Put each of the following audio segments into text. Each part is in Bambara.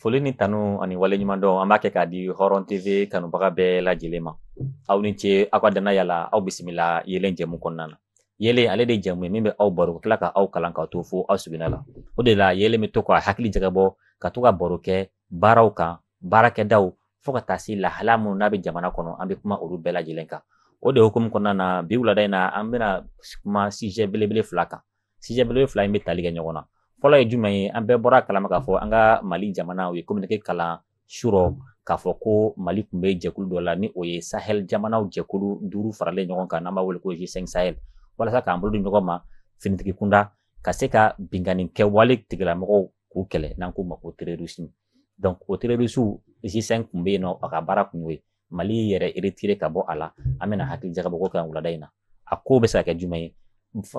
Foli ni tanu ani waleɲuman dɔn an b'a kɛ k'a di hɔrɔn tv kanubaga bɛɛ lajɛlen ma aw ni ce aw ka dannaya la aw bisimila ye yɛlɛlen jɛmu kɔnɔna na yɛlɛ ale de jɛmu ye min bɛ aw baro tila ka aw kalan ka to fo aw seginnana la o de la yɛlɛ bɛ to k'a hakili jagabɔ ka to ka baro kɛ baaraw kan baarakɛda fo ka taa se lahala minnu n'a bɛ jamana kɔnɔ an bɛ kuma olu bɛɛ lajɛlen kan o de hukumu kɔnɔna na bi wulada in na an bɛna kuma sijɛ belebele fila kan sijɛ belebele fila in bɛ tali kɛ ɲɔgɔn na fɔlɔ ye jumɛn ye an bɛɛ bɔra a kalama k'a fɔ an ka mali jamana u ye communiqué kalan surɔ k'a fɔ ko mali tun bɛ jɛkulu dɔ la ni o ye sahel jamanaw jɛkulu duuru faralen ɲɔgɔn kan n'an b'a wele ko g5 sahel walasa k'an bolo di ɲɔgɔn ma finitigi kunda ka se ka binkanni kɛwale tigilamɔgɔw k'u kɛlɛ n'an k'u ma ko terorisi donc o terorisiw g5 tun bɛ yen n'a ka baara kun y'o ye mali yɛrɛ retiré ka bɔ a la an bɛna hakili jagabɔ o kan wulada in na a ko bɛ se ka kɛ jumɛn ye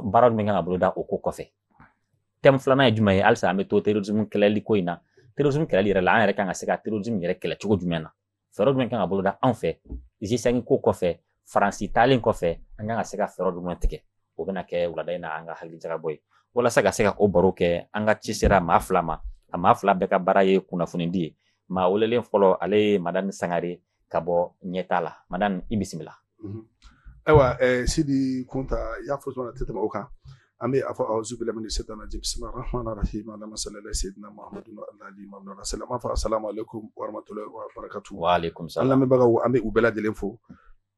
baara min kan ka boloda o ko kɔfɛ tɛmu filanan ye jumɛn ye halisa an bɛ to terrorisme kɛlɛli ko in na terrorisme kɛlɛli yɛrɛ la an yɛrɛ kan ka se ka terrorisme yɛrɛ kɛlɛ cogo jumɛn na fɛɛrɛ jumɛn kan ka boloda anw fɛ g5 kɔfɛ faransi taalen kɔfɛ an kan ka se ka fɛɛrɛ jumɛn tigɛ o bɛna kɛ wulada in na an ka hakili jagabɔ ye walasa ka se ka o baro kɛ an ka ci sera maa fila ma a maa fila bɛɛ ka baara ye kunnafonidi ye maa welelen fɔlɔ ale ye madani sangare ka bɔ ɲɛta la madani i bisimila mhm. ayiwa eh, sidi kunta i y'a fɔ cogo tɛ tɛmɛ o kan an bɛ a fɔ awuzu bilahi mina setani rajim bisimila rahman rahim allahumma salli ala sayyidina muhammadu alali mamadu salama fa assalamu alaikum warahmatullahi wabarakatuh wa alaikum salam an lamɛnbagaw an bɛ u bɛɛ lajɛlen fo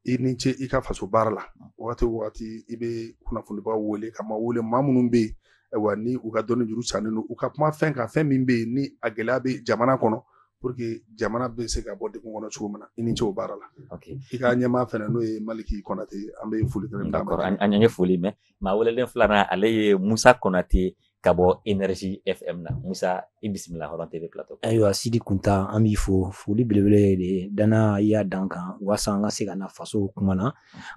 i ni ce i ka faso baara la wagati wagati i bɛ kunnafonibaw wele ka maa wele maa minnu bɛ yen ayiwa ni u ka dɔnni juru sannen don u ka kuma fɛn kan fɛn min bɛ yen ni a gɛlɛya bɛ jamana kɔnɔ pour que jamana bɛ se ka bɔ degun kɔnɔ cogo min na i ni ce o baara la i ka ɲɛmaa fana n'o ye maliki kɔnate an bɛ foli kelen d'a ma an ye foli mɛn maa welelen filanan ale ye musa kɔnate ka bɔ energy fm na musa i bisimila hɔrɔn tv plateau ayiwa sidi kunta an b'i fo foli belebele de dannaya da an kan waasa an ka se ka na faso kuma na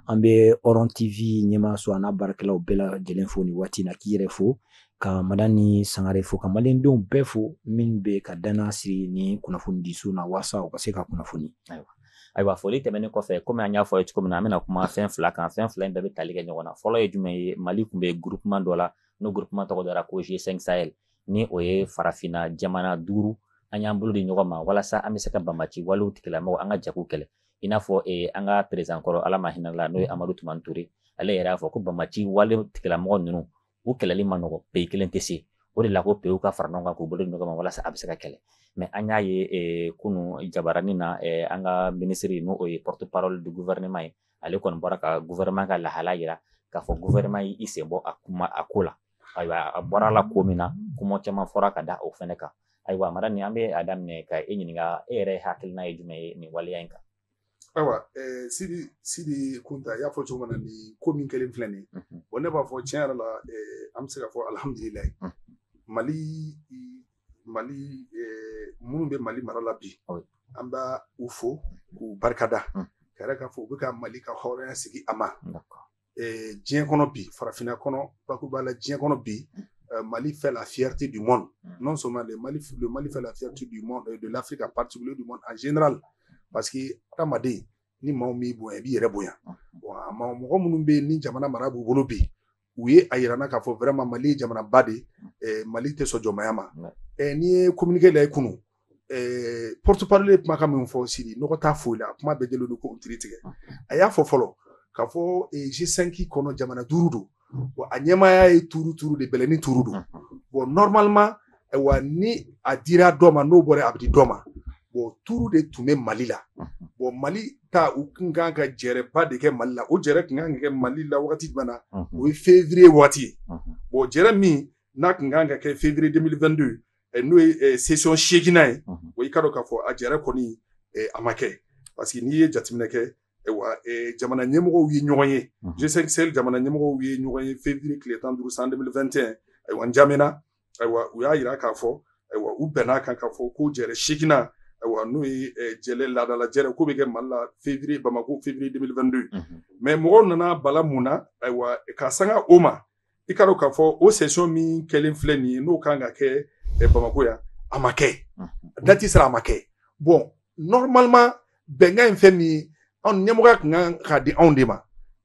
an bɛ hɔrɔn tv ɲɛmaaso an'a baarakɛlaw bɛɛ lajɛlen fo nin waati in na k'i yɛrɛ fo ka madani sangare fo ka malidenw bɛɛ fo min b'u ka dannaya siri nin kunnafonidiso in na waasa u ka se ka kunnafoni ayiwa ayiwa foli tɛmɛnen kɔfɛ komi an y'a fɔ ye cogo min na an bɛna kuma fɛn fila kan fɛn fila in bɛɛ bɛ tali kɛ ɲɔgɔn na fɔlɔ ye jumɛn ye mali tun bɛ groupement dɔ la n'o groupement tɔgɔ dara ko G5 Sahel ni o ye farafinna jamana duuru an y'an bolo di ɲɔgɔn ma walasa an bɛ se ka banbaanci walew tigilamɔgɔ an ka jɛ k'u kɛlɛ i n'a fɔ eh, an ka perezidan kɔrɔ ala ma hinɛ a la n'o ye amadu tumani ture ale yɛrɛ y'a fɔ ko banbaanci wale tigilamɔgɔ ninnu u kɛlɛli ma nɔgɔ peyi kelen tɛ se o de la ko peyiw ka fara ɲɔgɔn kan k'u bolo di ɲɔgɔn ma walasa a bɛ se ka kɛlɛ mais an y'a ye eh, kunu jabaranin na eh, an ka minisiri n'o ye porte parole du gouvernement ye ale kɔni bɔra ka gouvernement ka lahala jira k'a fɔ gouvernement y'i sen bɔ a kuma a ko la ayiwa a bɔra la ko min na kuma caman fɔra ka da o fana kan ayiwa mara ni an bɛ a daminɛ ka e ɲininka e yɛrɛ hakilina ye jumɛn ye nin waleya in kan ayiwa eh, sidi sidi kunta i y'a fɔ cogo min na nin ko min kɛlen filɛ nin mhm. wa ne b'a fɔ tiɲɛ yɛrɛ la eh, an bɛ se ka fɔ alihamudulilayi mhm. mali mali minnu bɛ mali mara la bi an b'u fo k'u barikada k'a jira k'a fɔ u bɛ ka mali ka hɔrɔnya sigi a ma diɲɛ kɔnɔ bi farafinna kɔnɔ bakuruba la diɲɛ kɔnɔ bi mali fait la fierté du monde non seulement de mali mali fait la fierté du monde de l'Afrique en partie du monde en général parce que adamaden ni maaw min bonya i b'i yɛrɛ bonya mɔgɔ minnu bɛ ni jamana mara b'u bolo bi u ye a jira an na k'a fɔ vraiment mali ye jamanaba de mali tɛ sɔn jɔnmaya ma n'i ye communiqué lajɛ kunun porte-parole ye kumakan min fɔ sidi nɔgɔ t'a foyi la a kuma bɛ deli don ko ki tigɛ a y'a fɔ fɔlɔ k'a fɔ G5 kɔnɔ jamana duuru don wa a ɲɛmaaya ye tour tour de bɛɛ n'i tour don bon normalement wa ni a dira dɔ ma n'o bɔra a bɛ di dɔ ma bon tour de tun bɛ mali la bon mali taa u tun kan ka jɛrɛba de kɛ mali la o jɛrɛ tun kan ka kɛ mali la waati jumɛn na o ye fevrier waati ye o jɛrɛ min n'a tun kan ka kɛ fevrier 2022 n'o ye session seeginnan ye o y'i ka dɔn k'a fɔ a jɛrɛ kɔni a ma kɛ parce que n'i ye jateminɛ kɛ wa jamana ɲɛmɔgɔw ye ɲɔgɔn ye G5 Sahel jamana ɲɛmɔgɔ ye ɲɔgɔn ye fevrier tile tan ni duuru san 2021 ayiwa N'Djamena ayiwa u y'a jira k'a fɔ ayiwa u bɛnna a kan k'a fɔ ko jɛrɛ seeginnan ayiwa n'o ye jɛrɛ laadala jɛrɛ k'o bɛ kɛ mali la fevrier bamako fevrier 2022 mais mɔgɔw nana bala mun na ayiwa ka sanga o ma i k'a dɔn k'a fɔ o session min kɛlen filɛ nin ye n'o kan ka kɛ bamako yan a ma kɛ dati sera a ma kɛ bon normalement bɛnkan in fɛn min ye anw ɲɛmɔgɔya tun kan ka di anw de ma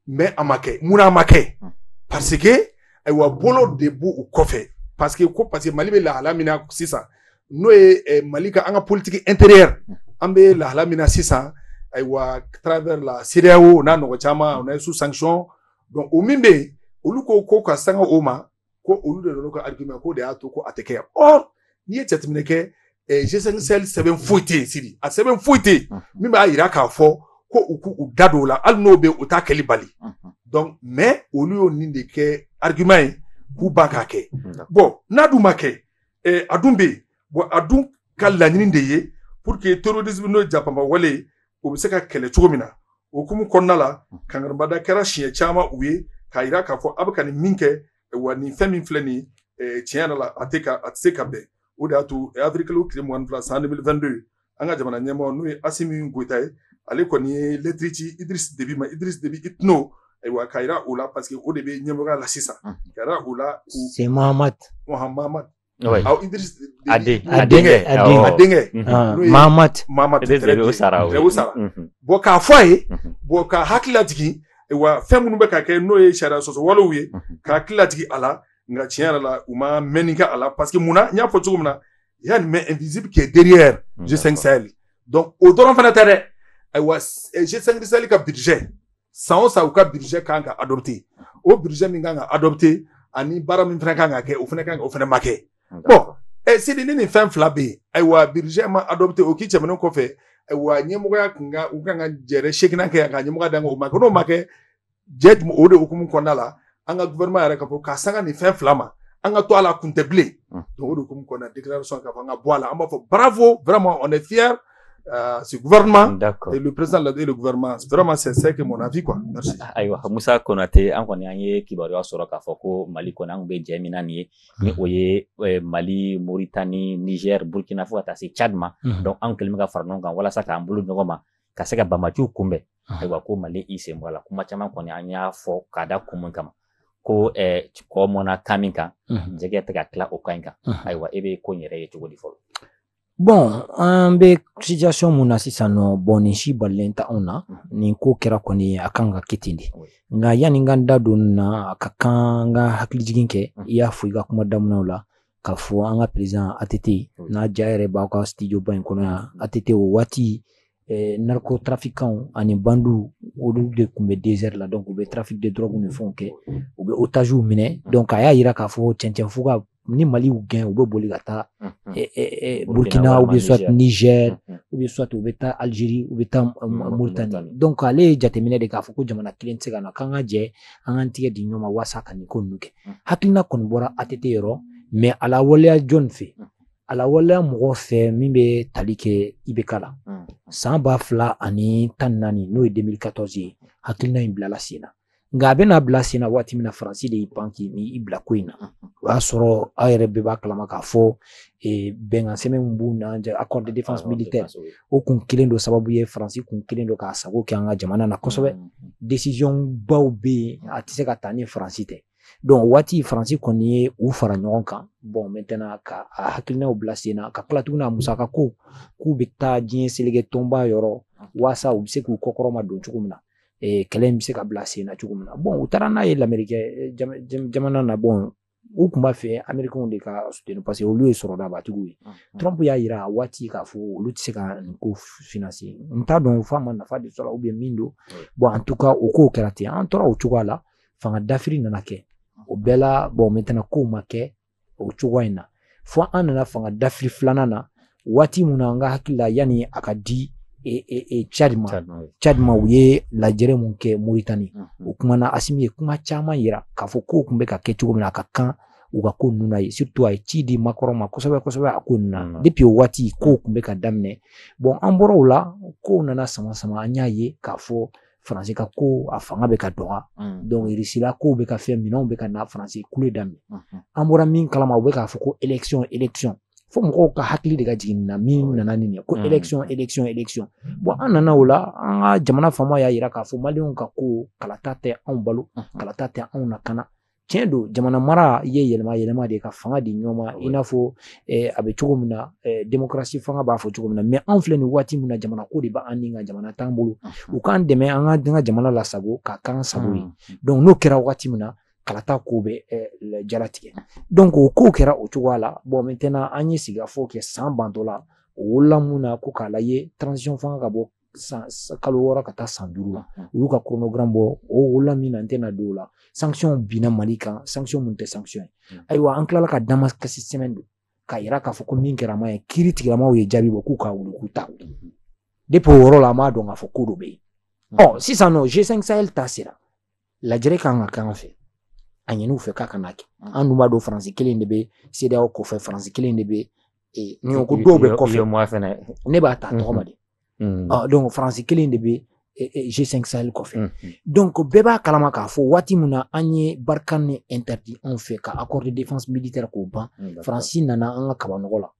mais a ma kɛ munna a ma kɛ hmm. parce que ayiwa bolo de b'u u kɔfɛ parce que ko parce que mali bɛ lahala min na sisan n'o ye eh, mali ka an ka politiki intérieure hmm. an bɛ lahala min na sisan ayiwa travers la CEDEAO n'a ɲɔgɔn caman on est sous sanction donc o min bɛ yen olu ko ko ka sanga o ma ko olu de nana ka argument k'o de y'a to ko a tɛ kɛ or n'i ye jateminɛ kɛ eh, G5 Sahel sɛbɛn foyi tɛ yen Sidi a sɛbɛn foyi tɛ yen Unhun. min b'a jira k'a fɔ ko u k'u u da don o la hali n'o bɛ yen o t'a kɛli bali Unhun. donc mais olu y'o nin de kɛ argument ye k'u ban k'a kɛ D'accord. bon n'a dun ma kɛ eh, a dun bɛ yen bon a dun ka laɲini de ye pour que terrorisme n'o ye japapa wale ye o bɛ se ka kɛlɛ cogo min na o hukumu kɔnɔna la kankarimada kɛra siɲɛ caman u ye k'a jira k'a fɔ a bɛ ka nin min kɛ wa nin fɛn min filɛ nin ye tiɲɛ yɛrɛ la a tɛ ka a tɛ se ka bɛn o de y'a to avrikiliw tile mugan ni fila san 2022 an ka jamana ɲɛmɔgɔ n'o ye Asimi Goyita ye ale kɔni ye lɛtiri ci Idrisi Debi ma Idrisi Debi Itno ayiwa k'a jira o la parce que o de bɛ ɲɛmɔgɔya la sisan k'a jira o la ko c'est Mahamati Mahamati Oui. Aw Idriss a den a denkɛ a denkɛ a denkɛ n'o ye Mahamat Mahamat très bien Sara Rewo Sara bon k'a fɔ a ye bon k'a hakili lajigin wa fɛn minnu bɛ ka kɛ n'o ye sariya sɔsɔ walew ye k'a hakili lajigin a la nka tiɲɛ yɛrɛ la u ma mɛnni kɛ a la parce que mun na n y'a fɔ cogo min na il y a une main invisible qui est derrière G5 Sahel donc o dɔrɔn fana tɛ dɛ ayiwa G5 Sahel ka budget san o san u ka budget kan ka adopté o budget min kan ka adopté ani baara min fana kan ka kɛ o fana kan o fana ma kɛ bon ɛ Sidi ni nin fɛn fila bɛ yen ayiwa budget ma adopté o k'i tɛmɛnen kɔfɛ ayiwa ɲɛmɔgɔya kun ka kan ka jɛrɛ seginna kɛ yan ka ɲɛmɔgɔya d'an ma o ma kɛ n'o ma kɛ jɛ o de hukumu kɔnɔna la an ka gouvernement yɛrɛ ka bɔ ka sanga nin fɛn fila ma an ka to a la kun tɛ bilen donc o de hukumu kɔnɔna déclaration k'a fɔ an ka bɔ a la an b'a fɔ bravo vraiment on est fier Euh, ce gouvernement D'accord. et le président l'a dit le gouvernement vraiment c'est c'est que mon avis quoi merci ayiwa musa konate an kɔni an ye kibaruya sɔrɔ k'a fɔ ko mali kɔni an kun bɛ jɛ min na nin ye ni o ye eh, mali moritani niger burkina fo ka taa se tchad ma Mhm. donc an kɛlen bɛ ka fara ɲɔgɔn kan walasa k'an bolo ɲɔgɔn ma ka se ka banbaanciw kunbɛn ayiwa ko mali y'i sen bɔ a la kuma caman kɔni an y'a fɔ k'a da kun min kama ko kɔ mɔnna kan min kan jɛgɛ tɛ ka tila o kan in kan ayiwa e bɛ ko in yɛrɛ ye cogo di fɔlɔ bon an bɛ situation min na sisan nɔ bon nin si balalen t'anw na nin ko kɛra kɔni a kan ka kɛ ten de nka yanni n ka da don a la a ka kan n ka hakili jigin kɛ i y'a fɔ i ka kuma daminɛ la k'a fɔ an ka perezidan ATT n'a ja yɛrɛ b'aw ka bon in kɔnɔ yan ATT o waati eh, narcotrafikanw ani bandiw olu de tun bɛ desert la donc u bɛ trafic de drogue ni fɛnw kɛ u bɛ otagew minɛ donc a y'a yira k'a fɔ cɛncɛn fuga ni mali y'u gɛn u bɛ boli ka taa eh, eh, burkina u bɛ soit niger u bɛ soit u bɛ taa algerie u bɛ taa mauritanie donc ale y'a jateminɛ de k'a fɔ ko jamana kelen tɛ se ko in na k'an ka jɛ an k'an tigɛ di ɲɔgɔn ma walasa ka nin ko ninnu kɛ mm. hakilina kɔni bɔra ATT yɔrɔ mais a lawaleya jɔn fɛ mm. a lawaleya mɔgɔ fɛ min bɛ tali kɛ IBK la mm. san ba fila ani tan naani n'o ye 2014 ye hakilina in bilala sen na nka a bɛna bila sen na waati min na faransi de y'i pan k'i ni i bila ko in na o y'a sɔrɔ aw yɛrɛ bɛɛ b'a kalama k'a fɔ eh, bɛnkansɛbɛn min b'u n'an cɛ accord de défense militaire o kun kɛlen don sababu ye faransi kun kɛlen don k'a sago kɛ an ka jamana na kosɛbɛ mm, mm, mm. desizɔn baw bɛ yen a tɛ se ka ta ni faransi tɛ donc waati faransi kɔni ye u fara ɲɔgɔn kan bɔn mɛtɛna ka a hakilinaw bila sen na ka tila tuguni a musaka ko k'u bɛ taa diɲɛ seleke tɔnba yɔrɔ waasa u bɛ se k'u kɔkɔrɔma don cogo min na kɛlɛ in bɛ se ka bila sen na cogo min na bɔn u taara n'a ye lamerikɛ jamana na bɔn u tun b'a fɛ americains de k'a soutenu parce que olu ye sɔrɔbatigiw ye trump y'a yira a waati k'a fɔ olu tɛ se ka nin ko financer n t'a dɔn f'a ma nafa de sɔrɔ ou bien min don bon en tout cas o kow kɛra ten an tora o cogoya la fanga dafiri nana kɛ o bɛɛ la bon maintenant kow ma kɛ o cogoya in na fo an nana fanga dafiri filanan na waati mun na n ka hakili la yanni a ka di Tchad ma Tchad ma u ye lajɛrɛ mun kɛ Mauritanie o kuma na Asimi ye kuma caman yira k'a fɔ kow tun bɛ ka kɛ cogo min na a ka kan u ka ko ninnu na ye surtout a ye ci di Macron ma kosɛbɛ kosɛbɛ a ko ninnu na depuis o waati kow tun bɛ ka daminɛ bon an bɔra o la kow nana sama sama an y'a ye k'a fɔ faransi ka ko a fanga bɛ ka dɔgɔya mm. donc irisila kow bɛ ka fɛn minɛnw bɛ ka na faransi kule daminɛ mm-hmm. an bɔra min kalama u bɛ k'a fɔ ko élection élection fo mɔgɔw ka hakili de ka jigin na min ah nana nin ye ko mm. élection élection élection bon an nana o la an ka jamana faama y'a yira k'a fɔ maliyɛnw ka ko kalata tɛ anw balo mm-hmm. kalata tɛ anw lakana tiɲɛ don jamana mara in ye yɛlɛma yɛlɛma de ka fanga di ɲɔgɔn ma i n'a fɔ a bɛ cogo min na demokarasi fanga b'a fɔ cogo min na mɛ anw filɛ nin waati min na jamana ko de b'an ni ka jamana t'an bolo u k'an dɛmɛ an ka denkɛ jamana lasago k'a kɛ an sago ye dɔnku n'o kɛra waati min na kalata ko bɛ na latigɛ dɔnku ko ko kɛra o cogoya la bɔn mɛ tɛna an ye sigikafɔ kɛ san bantɔ la o wolola mun na ko k'a la ye taranzisiyɔn fanga ka bɔ san kalo wɔɔrɔ ka taa san duuru la u y'u ka kronogramu bɔ o wolola min na n tɛna don o la sancɔn binna mali kan sancɔn mun tɛ sancɔn ye ayiwa an tilala ka damakasi sɛbɛn don k'a yira k'a fɔ ko min kɛra man ɲi kiritigɛlaw ye jaabi bɔ k'u k'a wuli k'u ta depi o yɔrɔ la an b'a dɔn k'a fɔ ko dɔ bɛ yen ɔ sisan nɔ g5 sahel ta sera lajɛrɛ ka kan ka k'an fɛ a ɲin'u fɛ k'a kana kɛ an dun b'a dɔn faransi kelen de bɛ sedeyaw kɔfɛ faransi kelen de bɛ n'i ko ko dɔw bɛ kɔfɛ ne b'a ta tɔgɔ ma de Mm. Ɔ, donc faransi kelen de bɛ eh, eh, G5 Sahel kɔfɛ. Mm. Donc bɛɛ b'a kalama k'a fɔ waati min na an ye Barkhane nin interdit anw fɛ ka accord de défense militaire k'o ban. Mm. Faransi nana an ka kabanɔgɔ la.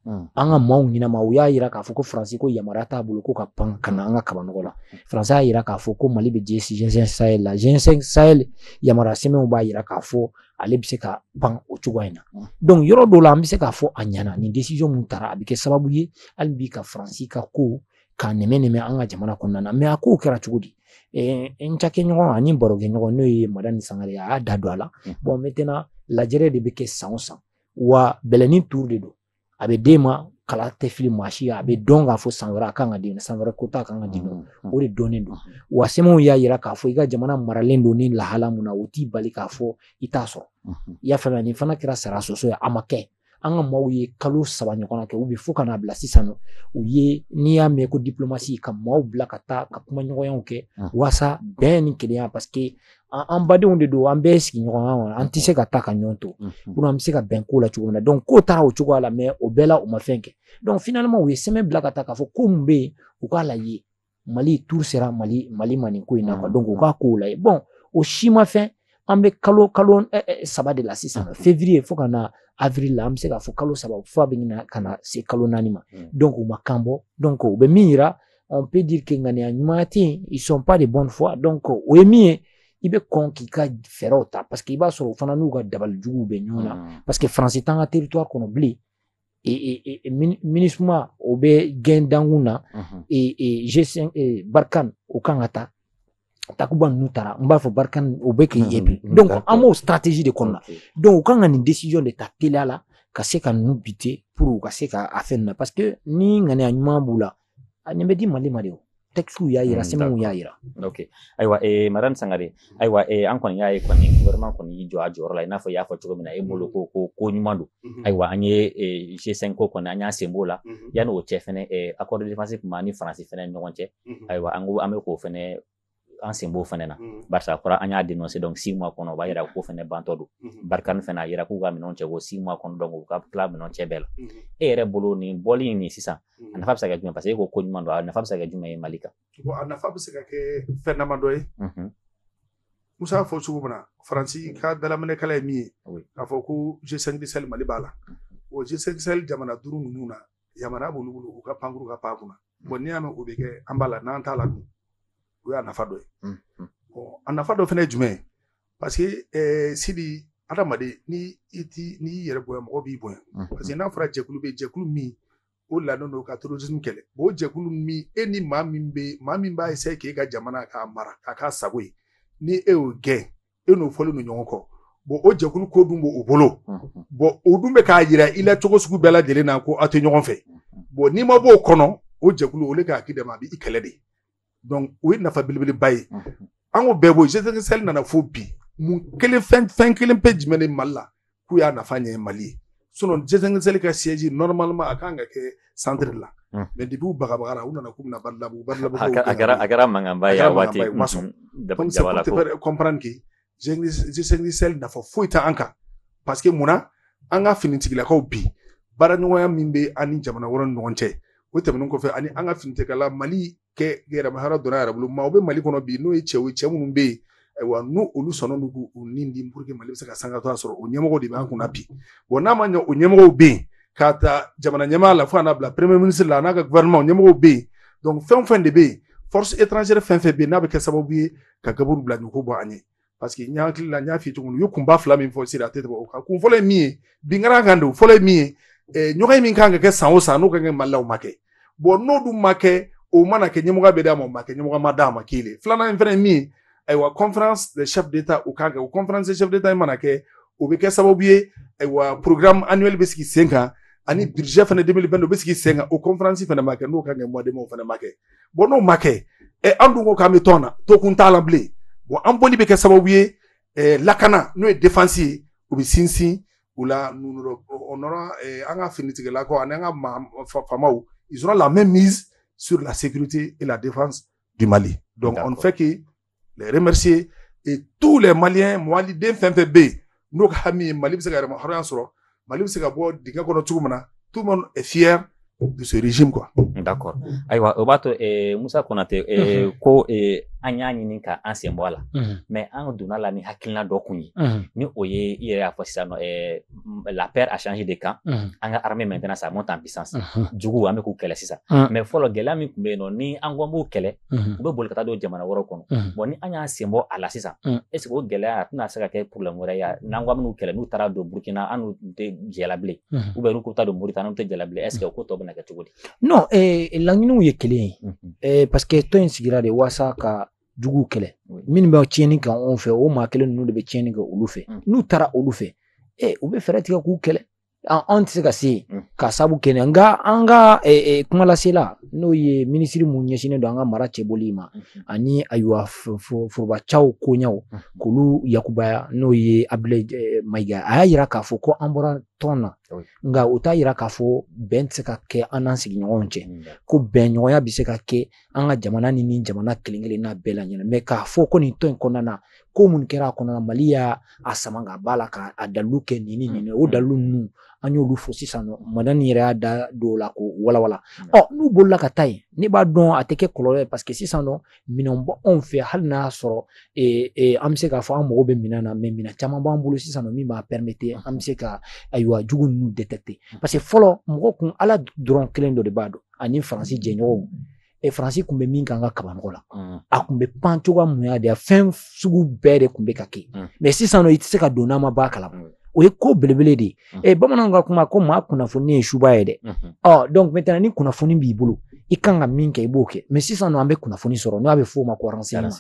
Mm. An ka maaw ɲɛnama u y'a jira k'a fɔ ko Faransi ko yamaruya t'a bolo ko ka pan ka na an ka kabanɔgɔ la. Faransi y'a jira k'a fɔ ko Mali bɛ G5 Sahel la. G5 Sahel yamaruya sɛbɛnw b'a jira k'a fɔ ale bɛ se ka pan o cogoya in na donc yɔrɔ dɔw la an bɛ se k'a fɔ a ɲɛna nin décision mun tara a bɛ kɛ sababu ye hali bi ka faransi ka ko k'a nɛmɛ nɛmɛ an ka jamana kɔnɔna na mɛ a kow kɛra cogo di n cakɛɲɔgɔn ani barokɛɲɔgɔn n'o ye madani sangare a y'a da don a la bɔn mɛtɛna lajɛrɛ de bɛ kɛ san o san wa bɛɛ n'i tuuru de don a bɛ di ma kala tɛ fili maa si a bɛ dɔn k'a fɔ san wɛrɛ a kan ka di san wɛrɛ kota kan ka di mm, mm. o de dɔnnen don wa sɛbɛnw y'a yira k'a fɔ i ka jamana maralen don ni lahala min na o t'i bali k'a fɔ i t'a sɔrɔ mm-hmm. i y'a faamuya nin fana kɛra sara soso ye a ma kɛ an ka maaw ye kalo saba ɲɔgɔn kɛ u bɛ fo ka n'a bila sisan na o ye n'i y'a mɛn ko diplomasi ka maaw bila ka taa ka kumaɲɔgɔnyaw kɛ mm. waasa bɛn ni kelenya parce que an badenw de don an bɛɛ sigiɲɔgɔnya kɔnɔ an tɛ se ka taa ka ɲɔgɔn to kono an bɛ se ka bɛn ko la cogo min na donc k'o taara o cogoya la mɛ o bɛɛ la u ma fɛn kɛ donc finalement u ye sɛbɛn bila ka taa k'a fɔ ko mun bɛ yen u k'a lajɛ mali tour sera mali mali ma nin ko in na quoi donc u k'a kow lajɛ bon o si ma fɛn an bɛ kalo kalo saba de la sisan février fo ka na avril la an bɛ se k'a fɔ kalo saba fo a bɛ ɲini ka na se kalo naani ma donc u ma kan bɔ donc u bɛ min yira on peut dire que ŋaniya ɲuman tɛ yen ils sont pas de bonne foi donc o ye min ye i bɛ kɔn k'i ka fɛɛrɛw ta parce que i b'a sɔrɔ u fana n'u ka dabali juguw bɛ ɲɔgɔn na hmm. parce que faransi t'an ka territoire kɔnɔ bilen minisuma o bɛ gɛn dankun na g5 barikane u kan ka taa takuba ninnu taara n b'a fɔ barika u bɛ k'i ye bi donc an b'o stratégie de kɔnɔna donc u kan ka nin décision de ta teliya la ka se ka ninnu bite pour u ka se ka a fɛn na parce que ni ŋaniya ɲuman b'u la a nin bɛ di mali ma de o textiw y'a yira sɛbɛnw y'a yira ok ayiwa eh, madame sangare ayiwa eh, an kɔni y'a ye kɔni gouvernement kɔni y'i jɔ a jɔyɔrɔ la i n'a fɔ i y'a fɔ cogo min na e bolo ko ko ko ɲuman don ayiwa an ye eh, g5 ko kɔni an y'an sen b'o la yanni o cɛ fɛnɛ eh, accord de défense tun b'an ni faransi fɛnɛ ni ɲɔgɔn cɛ ayiwa an ko an bɛ k'o fana an sen b'o fana na barisa a fɔra an y'a denonse donc six mois kɔnɔ o b'a jira k'o fana bantɔ don barikani fana a jira k'u ka minɛn cɛ ko six mois kɔnɔ dɔn u ka tila minɛn cɛ bɛɛ la e yɛrɛ bolo nin bɔli in nin sisan a nafa bɛ se ka jumɛn paseke e ko ko ɲuman don a nafa bɛ se ka kɛ jumɛn ye mali kan a nafa bɛ se ka kɛ fɛn dama dɔ ye musa y'a fɔ cogo min na faransi ka dalaminɛkala ye min ye k'a fɔ ko g5 sahel mali b'a la o g5 sahel jamana duuru ninnu na yamaruya b'olu bolo u ka pankuru ka pan kunna bɔn n'i y'a mɛn o bɛ kɛ an b'a la n'an t'a la dun o y'a nafa dɔ ye bɔn a nafa dɔ fana ye jumɛn ye parce que eh, sidi adamaden ni i ti n'i y'i yɛrɛ bonya mɔgɔ b'i bonya parce que n'a fɔra jɛkulu bɛ jɛkulu min o lanen don ka terrorisme kɛlɛ bon o jɛkulu min e ni maa min bɛ maa min b'a essayer k'e ka jamana k'a mara k'a k'a sago ye ni e y'o gɛn e n'o fɔlen don ɲɔgɔn kɔ bon o jɛkulu ko dun b'o bolo bɔn o dun bɛ k'a jira i la cogo sugu bɛɛ lajɛlen na ko aw tɛ ɲɔgɔn fɛ bɔn n'i ma b'o kɔnɔ o jɛkulu olu ka hakili dama bɛ i kɛlɛ de dɔnku o ye nafa belebeleba ye an k'o bɛɛ bɔ g5 sahel nana fo bi mun kelen fɛn kelen pe jumɛn ni mali la k'u y'a nafa ɲɛ mali ye sinon G5 Sahel ka siège normalement a kan ka kɛ centre la hmm. mais depuis u bagabagara u nana k'u bɛ na Badalabugu Badalabugu a kɛra a kɛra mankanba ye a waati u ma sɔn donc c'est pour te faire comprendre que G5 Sahel nafa foyi tɛ an kan parce que munna an ka finitigilakaw bi baaraɲɔgɔnya min bɛ an ni jamana wɛrɛw ni ɲɔgɔn cɛ o tɛmɛnen kɔfɛ ani an ka finitigilaka mali ka yɛrɛmahɔrɔnya don a yɛrɛ bolo maaw bɛ mali kɔnɔ bi n'o ye cɛw ye cɛ minnu bɛ yen ayiwa n'olu sɔnna don k'u ni di pour que mali bɛ se ka sanga to a sɔrɔ o ɲɛmɔgɔ de b'an kunna bi wa n'a ma ɲɛ o ɲɛmɔgɔw bɛ yen k'a ta jamana ɲɛmaa la fo ka n'a bila premier ministre la n'a ka gouvernement ɲɛmɔgɔw bɛ yen donc fɛn o fɛn de bɛ yen force étrangère fɛn fɛn bɛ yen n'a bɛ kɛ sababu ye ka gaburu bila ɲɔgɔn bɔ an ye parce que n hakili la n y'a f'i ye cogo min u ye kunba fila min fɔ sira a tɛ tɛmɛ o kan kun fɔlɔ ye min ye binkara kan don fɔlɔ ye min ye eh, ɲɔgɔnye min kan ka kɛ san o san n'o ka kɛ mali la o ma kɛ bɔn n'o dun ma kɛ o mana kɛ ɲɛmɔgɔya bɛ d'a ma o ma kɛ ɲɛmɔgɔya ma d'a ma k'i le filanan in fana ye min ye ayiwa conférence de chef d'état o kan kɛ o conférence de chef d'état in mana kɛ o bɛ kɛ sababu ye ayiwa programme annuel bɛ sigi sen kan ani budget fana 2022 o bɛ sigi sen kan o conférence fana ma kɛ n'o ka kɛ mois de mai o fana ma kɛ bɔn n'o ma kɛ ɛ an dun ko k'an bɛ tɔn na to kun t'a la bilen bɔn an bɔli bɛ kɛ sababu ye ɛ lakana n'o ye défense ye o bɛ sinsin o la o nɔrɔ an ka finitigilakaw ani an ka faamaw ils auront la mainmise sur la sécurité et la défense du Mali donc on ne fait que les remercier et tous les maliens maliden fɛn fɛn bɛ yen n'u ka hami ye mali bɛ se ka yɛrɛmahɔrɔnya sɔrɔ mali bɛ se ka bɔ dingɛ kɔnɔ cogo min na tout le monde est fier de ce régime quoi. d'accord ayiwa o b'a to eh, Musa Konate eh, mm -hmm. ko eh, an y'a ɲini ka an sen bɔ a la mm -hmm. mais an donna la ni hakilina dɔ kun ye mm -hmm. ni o ye i yɛrɛ y'a fɔ sisan nɔ eh, la peur a changé de camp mhm. an ka armée maintenant ça monte en puissance mhm. juguw an bɛ k'u kɛlɛ sisan mhm. mais fɔlɔ gɛlɛya min tun bɛ yen nɔ ni an ko an b'u kɛlɛ u bɛ boli ka taa don jamana wɛrɛw kɔnɔ bon ni an y'an sen bɔ a la sisan est-ce que o gɛlɛya a tɛna se ka kɛ problème wɛrɛ ye n'an ko an b'u kɛlɛ n'u taara don burkina an n'u tɛ jɛ la bilen ou bien n'u ko taa don moritani an tɛ jɛ la bilen est-ce que o ko tɔ bɛna kɛ cogo di non eh, laɲiniw ye kelen ye eh, parce que tɔn in sigira de waasa ka juguw kɛlɛ minnu bɛ tiɲɛni kɛ anw fɛ o maa kelen ninnu de bɛ tiɲɛni kɛ olu fɛ mm. n'u taara olu fɛ ɛ u bɛ fɛɛrɛ tigɛ k'u kɛlɛ anw tɛ se ka se mm. ka sabu kɛ nka an ka kumalasela n'o ye minisiri min ɲɛsinnen don an ka mara cɛbɔli ma mm-hmm. ani ayiwa forobacaw koɲɛw mm-hmm. k'olu yakubaya n'o ye Abudulayi Mayiga a y'a yira k'a fɔ ko an bɔra tɔn na nka o t'a yira k'a fɔ bɛn tɛ se ka kɛ an n'an sigiɲɔgɔnw cɛ mm, ko bɛnɲɔgɔnya bɛ se ka kɛ an ka jamana ni nin jamana kelen kelenna bɛɛ la ɲɛna mɛ k'a fɔ ko nin tɔn in kɔnɔna na ko mun kɛra a kɔnɔna mali y'a a sama ka b'a la ka a dalilu kɛ nin ni nin o mm. dalilu ninnu an y'olu fɔ sisan nɔ madani yɛrɛ y'a da dɔw la k'u walawala mm. ɔ n'u bolila ka taa yen ne b'a dɔn a tɛ kɛ kɔlɔlɔ ye paseke sisan nɔ minɛn b'anw fɛ hali n'a y'a sɔrɔ e, e, an bɛ se k'a fɔ an mago bɛ minɛn na mɛ minɛn caman b'an bolo sisan nɔ min b'a pɛrɛmete an bɛ se ka ayiwa jugu ninnu détecter mm. parce que fɔlɔ mɔgɔ kun ala dɔrɔn kelen dɔ de b'a dɔn ani faransi jɛɲɔgɔnw e faransi tun bɛ min k'an ka kabanɔgɔ la mm. a tun bɛ pan cogoya min y'a diya fɛn sugu bɛɛ de tun bɛ ka kɛ mm. mɛ sisan i tɛ se ka don n'an ma bɔ a kalama mm. o ye ko belebele de ye mm. e bamananw ka kuma ko maa kunnafoni ye subaa ye dɛ mm-hmm. ɔ donc maintenant ni kunnafoni b'i bolo i kan ka min kɛ i b'o kɛ mais sisan nɔ an bɛ kunnafoni sɔrɔ n'o a bɛ f'o ma ko renseignement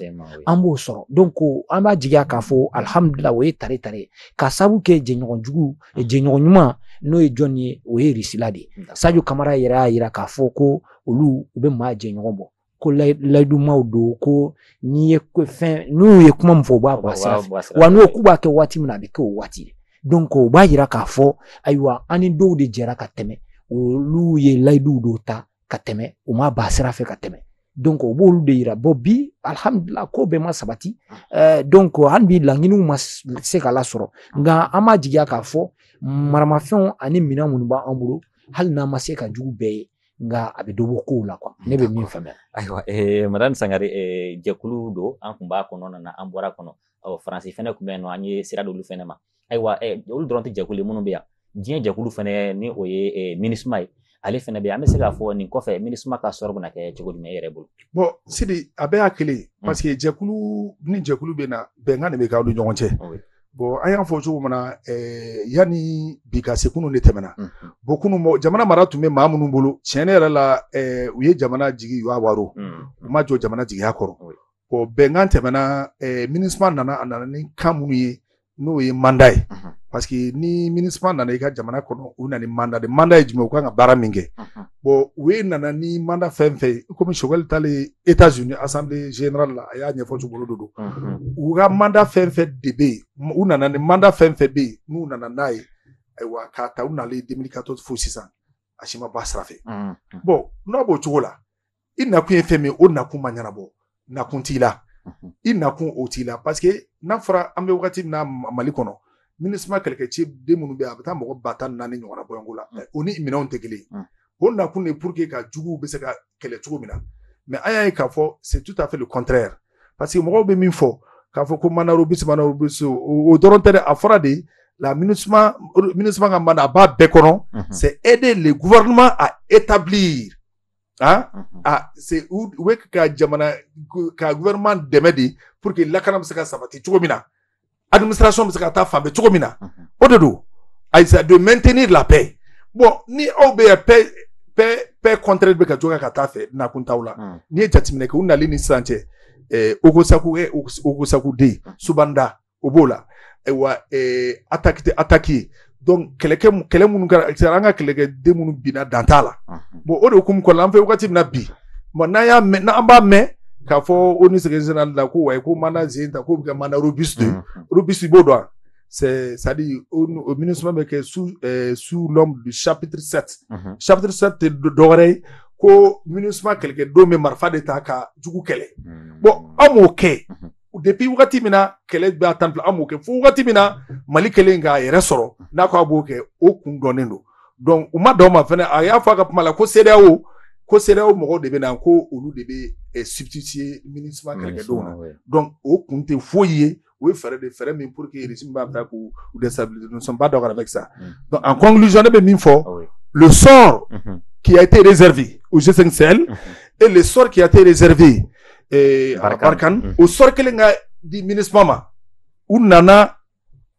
an b'o sɔrɔ donc ko an b'a jigiya k'a fɔ alhamdulila o ye tare tare ka sabu kɛ jɛɲɔgɔn jugu E jɛɲɔgɔn ɲuman n'o ye jɔn ye o ye risila de ye sajo kamara yɛrɛ y'a jira k'a fɔ ko olu u bɛ maa jɛɲɔgɔn bɔ ko layidumaw don ko n'i ye fɛn n'u ye kuma min fɔ u b'a bɔ a sira wa n'u k'u b'a kɛ waati min na a bɛ kɛ o waati de donc o b'a jira k'a fɔ ayiwa an ni dɔw de jɛra ka tɛmɛ olu ye layiduw dɔw ta ka tɛmɛ u ma b'a sira fɛ ka tɛmɛ donc o b'olu de yira bon bi alihamudulila ko bɛɛ ma sabati eh, donc hali bi laɲiniw ma se ka lasɔrɔ nka an b'a jigiya k'a fɔ maramafɛnw ani minɛn minnu b'an bolo hali n'an ma se ka jugu bɛɛ ye nka a bɛ dɔ bɔ kow la kuwa ne bɛ min faamuya ayiwa eh, madame sangare eh, jɛkulu don an tun b'a kɔnɔna na an bɔr'a kɔnɔ ɔ faransi fɛnɛ tun bɛ yen nɔ an ye sira d'olu fɛnɛ ma ayiwa olu dɔrɔn tɛ jɛkulu minnu bɛ yan diɲɛ jɛkulu fana ni o ye minisuma ye ale fana bɛ yen an bɛ se k'a fɔ nin kɔfɛ minisuma ka sɔrɔ bɛna kɛ cogo jumɛn e yɛrɛ bolo bɔn sidi a bɛɛ y'a kelen hmm. parce que jɛkulu ni jɛkulu bɛ na bɛnkan de bɛ k'aw ni ɲɔgɔn cɛ bɔn an y'a fɔ cogo min na yanni bi ka se kunun de tɛmɛna hmm, hmm. bon kunun jamana mara tun bɛ maa minnu bolo tiɲɛ ne yɛrɛ la u ye jamana jigiya waaro u ma jɔ jamana jigiya kɔrɔ o bɛnkan tɛmɛna ɛɛ minisuma nana a nana ni kan minnu ye n'o ye manda ye parce que ni minisuma nana i ka jamana kɔnɔ u nana manda de manda ye jumɛn u kan ka baara min kɛ bɔn u ye nana ni manda fɛn fɛn ye komi sogɛli taalen etazuni asanbile zenerali la a y'a ɲɛfɔ cogolo don don u ka manda fɛn fɛn de bɛ yen u nana ni manda fɛn fɛn bɛ yen n'u nana n'a ye ayiwa k'a ta u nalen don min ka to fo sisan a si ma b'a sira fɛ bɔn n'a b'o cogo la i nakun ye fɛn min ye o nakun ma ɲɛnabɔ nakun t'i la i nakun o t'i la paseke n'a fɔra an bɛ wagati min na mali kɔnɔ minisuma kɛlɛkɛ ciden minnu bɛ a bɛ taa mɔgɔ ba tan ni naani ɲɔgɔnna bɔɲɔgɔnko la o ni minɛnw tɛ kelen o nakun de pour que ka juguw bɛ se ka kɛlɛ cogo min na mɛ an y'a ye k'a fɔ c'est tout à fait le contraire parce que mɔgɔw bɛ min fɔ k'a fɔ ko manda robuste manda robuste o dɔrɔn tɛ dɛ a fɔra de la minusuma minusuma ka manda a b'a bɛɛ kɔnɔ c'est aider le gouvernement à établir Ah? Mhm. ah c'est où où est ka jamana ka gouvernement dɛmɛ de pour que lakana bɛ se ka sabati cogo min na administration bɛ se ka taa fan bɛɛ cogo min na mhm. o de don il s'agit de maintenir la paix bon ni aw bɛ yan paix paix paix contraire bɛ ka jɔ ka taa fɛ nakun t'aw la mhm. n'i ye jateminɛ kɛ u nali ni sisan cɛ ɛɛ eh, Ogossagou un eh, Ogossagou deux Sobane Da o b'o la ayiwa ataki ataki ye donc kɛlɛkɛ kɛlɛ minnu kɛra an ka kɛlɛkɛden minnu binna dan t'a la bon o de hukumu kɔnɔna an fɛ wagati min na bi bon n'an y'a mɛn n'an b'a mɛn k'a fɔ ONU sɛgɛn sɛnɛ la ko wayi ko mandat zen ta k'o bɛ kɛ mandat robuste de robuste i b'o dɔn c'est c'est à dire o o Minusma bɛ kɛ sous euh, sous l'ombre du chapitre 7 mm -hmm. chapitre 7 tɛ dɔwɛrɛ ye ko Minusma kɛlɛkɛden bɛ marifa de ta ka jugu kɛlɛ mm -hmm. bon an m'o kɛ mm -hmm. depuis wagati min na kɛlɛ bɛ a tan bila an b'o kɛ fo wagati min na mali kelen k'a yɛrɛ sɔrɔ n'a ko a b'o kɛ o kun dɔnnen don donc u ma dɔn ma fɛnɛ a y'a fɔ a ka kuma la ko CEDEAO ko CEDEAO mɔgɔw de bɛ na ko olu de bɛ eh, substituer Minusma kɛlɛkɛdenw na donc o kun tɛ foyi ye o ye fɛɛrɛ de fɛɛrɛ min pour que régime b'a ta k'u u déstabiliser nous ne sommes pas d'accord avec ça Mm. donc en conclusion ne bɛ min fɔ Ah oui. le sort Mhm. qui a été réservé au G5 Sahel et le sort qui a été réservé eh, Barkhane, o sort kelen ka di Minusma ma u nana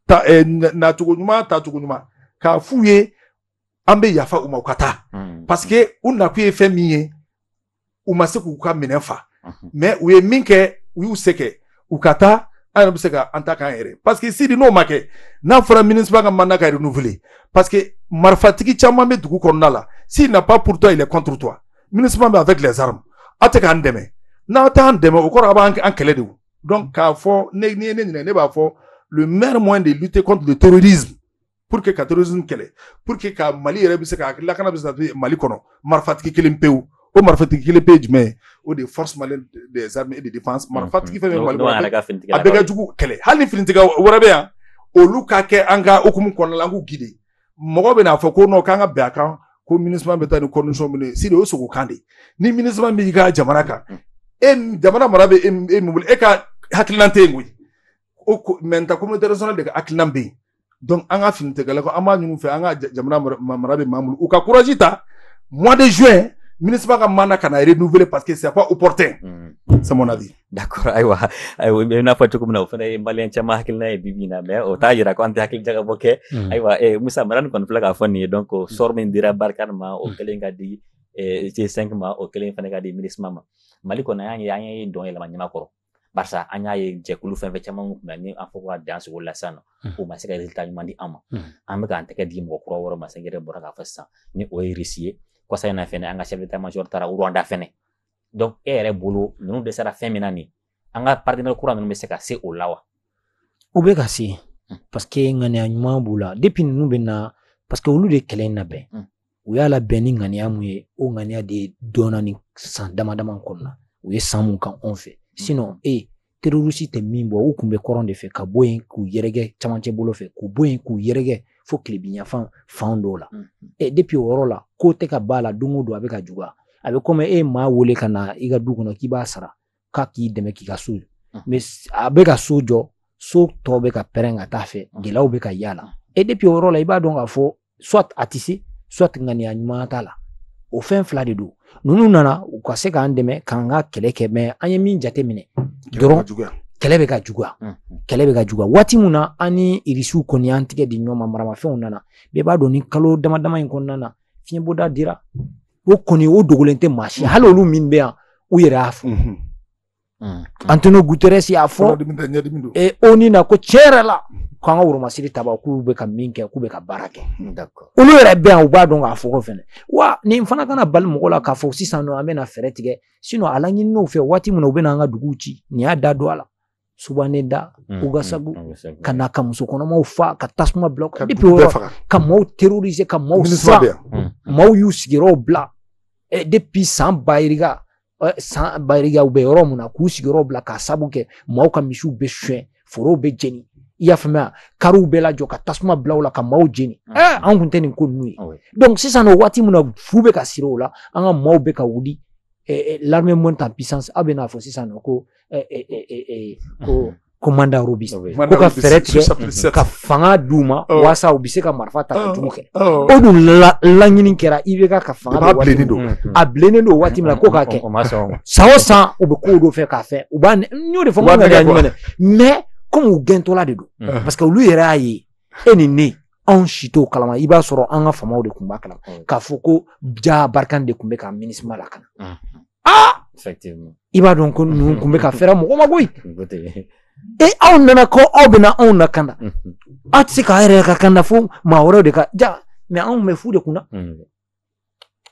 ta, eh, nacogo ɲuman taacogo ɲuman k'a f'u ye an bɛ yafa u ma u ka taa hmm. parce que u nakun ye fɛn min ye u ma se k'u ka minɛn fa hmm. mais u ye min kɛ u y'u se kɛ u ka taa an yɛrɛ bɛ se ka an ta k'an yɛrɛ parce que Sidi n'o ma kɛ n'a fɔra Minusma ka mandat ka renouveler parce que marifatigi caman bɛ dugu kɔnɔna la s'il n'a pas pour toi il est contre toi Minusma bɛ avec les armes aw tɛ k'an dɛmɛ n'aw t'an dɛmɛ o kɔrɔ a b'an an kɛlɛ de donc k'a fɔ ne n'i ye ne ɲininka ne b'a fɔ le meilleur moyen de lutter contre le terrorisme pour que ka terrorisme kɛlɛ pour que ka mali yɛrɛ bɛ se ka lakana bɛ se ka mali kɔnɔ marifatigi kelen pewu o marifatigi kelen pe ye jumɛn ye o de ye force malienne des armes et de défense marifatigi fɛn fɛn mali kɔnɔ a bɛɛ ka jugu kɛlɛ hali ni finitigi wɛrɛ bɛ yan olu ka kɛ an ka hukumu kɔnɔna la an k'u guider mɔgɔ bɛn'a fɔ ko n'o k'an ka bɛn a kan ko Minusma bɛ taa ni kɔmisɔn minnu ye Sidi o sogo kan de ni Minusma b'i ka jamana kan e jamana mara bɛ e min bolo e ka hakililan tɛ yen koyi o communauté communauté internationale de ka hakililan bɛ yen donc an ka finitigi la ko an b'a ɲini fɛ an ka jamana mara bɛ maa bolo u ka courage ta mois de juin Minusma ka mandat kana renouveler parce que sɛp u pte saɔnna de d'accord ayiwa ayiwa i y'a fɔ cogo min na o fana ye maliyɛn caman hakilina ye bibi in na mɛ o t'a yira ko an tɛ hakili jagabɔ kɛ ayiwa eh, musa mara nin kɔni filɛ k'a fɔ nin ye donc sɔrɔ min dira barikani ma o kɛlen ka di eh, g cinq ma o kɛlen fana ka di minisima ma mali kɔnɔ an y'a ye an ye dɔn yɛlɛma ɲama kɔrɔ barisa an y'a ye jɛkulu fɛn fɛn caman kun ni an fɔ ka dan sogo la sisan nɔ o ma se ka resultat ɲuman di an ma an bɛ k'an tɛgɛ di mɔgɔ kura wɛrɛw ma sɛgɛrɛ bɔra k'a fɔ sisan ni o ye irisi ye kɔsa in na fɛnɛ an ka chef d'état major taara rwanda fɛnɛ donc e yɛrɛ bolo ninnu dɛsɛra fɛn min na nin an ka partenaire kura ninnu bɛ se ka se o la wa u bɛ ka se hmm. parce que ŋaniya ɲuman b'u la depuis ninnu bɛ na parce que olu de kɛlɛ in labɛn hmm. u y'a labɛn ni ŋaniya mun ye o ŋaniya de dɔnna ni san dama dama kɔnɔna u ye san mun kɛ anw fɛ hmm. sinon e terorisi tɛ min bɔ u tun bɛ kɔrɔn de fɛ ka bɔ yen k'u yɛrɛkɛ cɛmancɛ bolo fɛ k'u bɔ yen k'u yɛrɛkɛ fo tilebinyanfan fan dɔw la ɛ depi o yɔrɔ la ko tɛ ka b'a la don o don a bɛ ka juguya a bɛ komi e maa wele ka na i ka du kɔnɔ k'i b'a sara k'a k'i dɛmɛ k'i ka so mɛ a bɛ ka so jɔ so tɔ bɛ ka pɛrɛn ka t'a fɛ gɛlɛyaw bɛ ka yaala e depi o yɔrɔ la i b'a dɔn k'a fɔ soit a tɛ se soit ŋaniya ɲuman t'a la o fɛn fila de don ninnu nana u ka se k'an dɛmɛ k'an ka kɛlɛ kɛ mɛ an ye min jateminɛ dɔrɔn kɛlɛ bɛ ka juguya kɛlɛ bɛ ka juguya waati min na an ni irisiw kɔni an tɛgɛ di ɲɔgɔn ma maramafɛnw nana bɛɛ b'a dɔn ni kalo dama dama in kɔnɔna na fiɲɛbɔda dira o kɔni o dogolen tɛ maa si hali olu min bɛ yan u yɛrɛ y'a fɔ Mm. Antonio Guterres y'a fɔ e ONU na ko tiɲɛ yɛrɛ la k'an ka woromasiri taba k'u bɛ ka min kɛ k'u bɛ ka baara kɛ olu yɛrɛ bɛ yan u b'a dɔn k'a fɔ ko fɛnɛ wa nin fana kana bali mɔgɔ la k'a fɔ sisan nɔ an bɛna fɛɛrɛ tigɛ sinɔn a laɲininiw fɛ waati min na u bɛna an ka duguw ci n'i y'a da don a la sobane da mm, ogosagu mm, ka na ka muso kɔnɔmaw fa ka tasuma bila ka ka maaw terroriser ka maaw sa maaw y'u sigiyɔrɔw bila eh, depuis san bayirika san bariyaw bɛ yɔrɔ mun na k'u sigiyɔrɔ bila k'a sabu kɛ maaw ka misiw bɛ suɲɛ forow bɛ jeni i y'a faamuya kariw bɛ lajɔ ka tasuma bila u la ka maaw jeni ɛɛ an kun tɛ nin ko ninnu ye donc sisan o waati min na fu bɛ ka siri o la an ka maaw bɛ ka wuli l'armée monte en puissance aw bɛ n'a fɔ sisan nɔ ko ko ko mandat robuste ko ka fɛɛrɛ tigɛ ka fanga d'u ma walasa u bɛ se ka marifa ta ka jugu kɛ o dun laɲini kɛra IBK ka fanga a bilennen don a bilennen don waati min na ko k'a kɛ san o san u bɛ kow dɔ fɛ k'a fɛ u b'a n y'o de fɔ n ka ɲɛ ɲuman dɛ mɛ komi u gɛntɔla de don parce que olu yɛrɛ y'a ye e ni ne anw si t'o kalama i b'a sɔrɔ an ka famaw de tun b'a kalama k'a fɔ ko jaa barikani de tun bɛ ka minisima lakana aa effectivement i b'a dɔn ko ninnu tun bɛ ka feere mɔgɔ ma koyi ko tɛ e aw nana ko aw bɛna anw lakanda aw tɛ se k'a yɛrɛ lakanda fo maa wɛrɛw de ka ja mɛ anw bɛ fu de kunna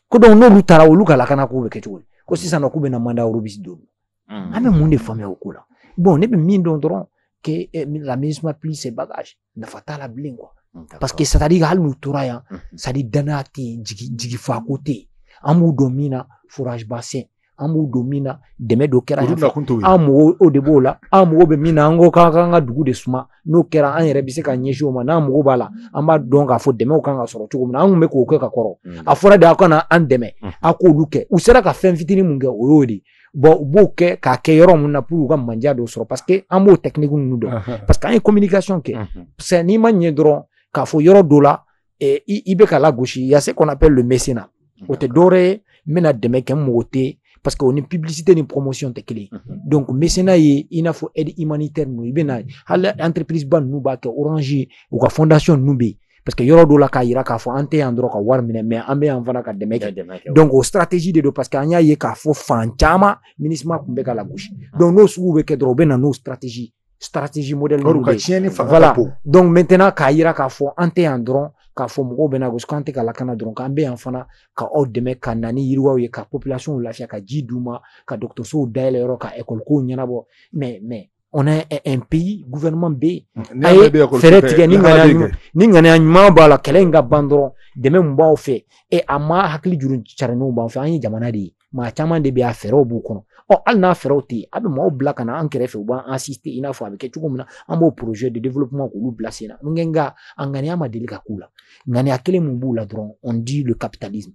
ko donc n'olu taara olu ka lakana k'u bɛ kɛ cogo di ko sisan nɔ k'u bɛna mandat robuste don an bɛ mun de faamuya o ko la bon ne bɛ min dɔn dɔrɔn que eh, la minusma plie ses bagages nafa t'a la bilen quoi parce que c'est-à-dire hali n'u tora yan c'est-à-dire danaya tɛ yen jigi fako tɛ yen an b'u dɔn min na forage ba sen an b'u dɔn min na dɛmɛ dɔ kɛra an mɔgɔw o de b'o la an mago bɛ min na an ko k'an k'an ka dugu de suma n'o kɛra an yɛrɛ bɛ se ka ɲɛsin o ma n'an mago b'a la an b'a dɔn k'a fɔ dɛmɛw kan ka sɔrɔ cogo min na an tun bɛ k'o kɛ ka kɔrɔ a fɔra de aw kana an dɛmɛ a k'olu kɛ u sera ka fɛn fitinin min kɛ o y'o de ye bɔn u b'o kɛ k'a kɛ yɔrɔ min na pour u ka mandiya dɔw sɔrɔ parce que an b'o technique ninnu dɔn parce que an ye communication kɛ c'est n'i ma ɲɛ dɔrɔn k'a fɔ yɔrɔ dɔ la i bɛ ka lagosi y a ce qu'on appelle le mécénat o tɛ dɔwɛrɛ ye n bɛna dɛmɛ kɛ mɔgɔ ye parce que o ni publicité ni promotion tɛ kelen donc mécénat ye i n'a fɔ e humanitaire i bɛna na hali entreprise ba n ninnu b'a kɛ orange u ka fondation n ninnu bɛ yen parce que yɔrɔ dɔ la k'a yira k'a fɔ an tɛ yan dɔrɔn ka wari minɛ mais an bɛ yan fana ka dɛmɛ kɛ donc o stratégie de don parce que an y'a ye k'a fɔ fan caman minusma tun bɛ ka lagosi ah. donc n'o sugu bɛ kɛ dɔrɔn u bɛ na n'o stratégie stratégie modèle ninnu de ye voilà donc maintenant k'a yira k'a fɔ an tɛ yan dɔrɔn k'a fɔ mɔgɔw b'an lagosi k'an tɛ ka lakana dɔrɔn k'an bɛ yan fana ka aw dɛmɛ ka na ni yiriwaw ye ka population lafiya ka ji d'u ma ka dɔgɔtɔrɔsow dayɛlɛ yɔrɔ ka école kow ɲɛnabɔ mais mais on a un pays gouvernement bɛ yen mm. a ye fɛɛrɛ tigɛ ni ŋaniya ɲuman ni ŋaniya ɲuman b'a la kɛlɛ in ka ban dɔrɔn dɛmɛ min b'aw fɛ e maa hakili juru carinenw b'an fɛ an ye jamana de ye maa caman de bɛ yen a fɛɛrɛw b'u kɔnɔ ɔ hali n'a fɛɛrɛw tɛ yen a bɛ maaw bila ka na an kɛrɛfɛ u b'an asiste i n'a fɔ a bɛ kɛ cogo min na an b'o projet de développement k'olu bila sen na n nka a ŋaniya ma deli ka k'u la ŋaniya kelen min b'u la dɔrɔn on dit le capitalisme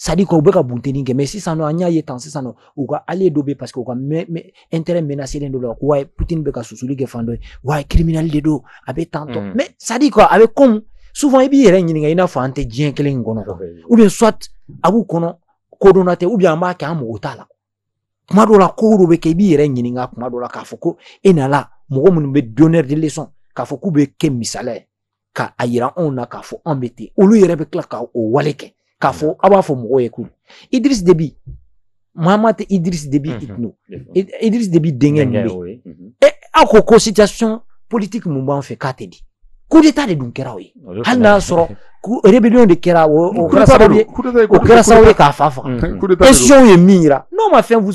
c'est-à-dire que u bɛ ka bunteni kɛ mais sisan nɔ an y'a ye tan sisan nɔ u ka allié dɔ bɛ parce que u ka intérêt menacelen don la ko ouais poutine bɛ ka susuli kɛ fan dɔ ye ouais criminel de don a bɛ tan tan mais c'est-à-dire quoi a bɛ comme souvent i b'i yɛrɛ ɲininka i n'a fɔ an tɛ diɲɛ kelen in kɔnɔ ou bien soit a b'u kɔnɔ kodɔnna tɛ ou bien an b'a kɛ an mago t'a la kuma dɔ la ko dɔ bɛ kɛ i b'i yɛrɛ ɲininka kuma dɔ la k'a fɔ ko e nana mɔgɔ minnu bɛ donneur de leçon k'a fɔ k'u bɛ kɛ misaliya ye ka a yira anw na k'a fɔ anw bɛ ten olu yɛrɛ bɛ tila ka o wale kɛ k'a fɔ aw b'a fɔ mɔgɔw ye ko idriss déby mahamat idriss déby mhm. itno idriss déby denkɛ min bɛ yen mhm. e, aw ko ko situation politique min b'an fɛ k'a tɛ di coup d'état de dun kɛra o ye hali n'a sɔrɔ rébellion de kɛra o mm. kɛra sababu ye o kɛra sababu ye k'a fa faga mm. élection ye min yira n'o ma fɛn vous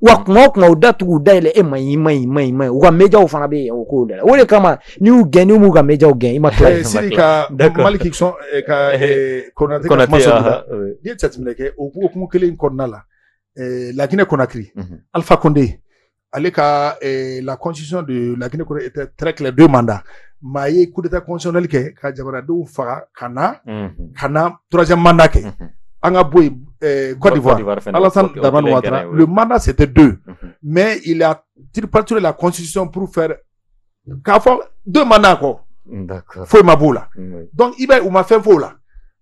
wa kuma o kuma u da tugu u da yɛlɛ e ma ɲi ma ɲi ma ɲi ma ɲi u ka mejaw fana bɛ yen o k'o da la o de kama n'i y'u gɛn n'i m'u ka mejaw gɛn i ma tila Eh, Sidi ka D'accord. Maliki Son eh, ka eh, Konate ka Konate, kuma sɔrɔ aha, oui. n'i ye jateminɛ kɛ o hukumu kelen in kɔnɔna la eh, La Guinée Conakry Mhm. Alpha Condé ale ka eh, la constitution de La Guinée Conakry était très claire deux mandats mais a ye coup d'état constitutionnel kɛ ka jamanadenw faga ka na Mhm. ka na troisième mandat kɛ mhm. an ka bɔ yen eh, Côte d'Ivoire Alassane Dramane Ouattara le mandat c'était deux mhm. mais il a tripatouillé la constitution pour faire k'a fɔ deux mandats kɔ foyi ma b'o la donc i b'a ye u ma fɛn f'o la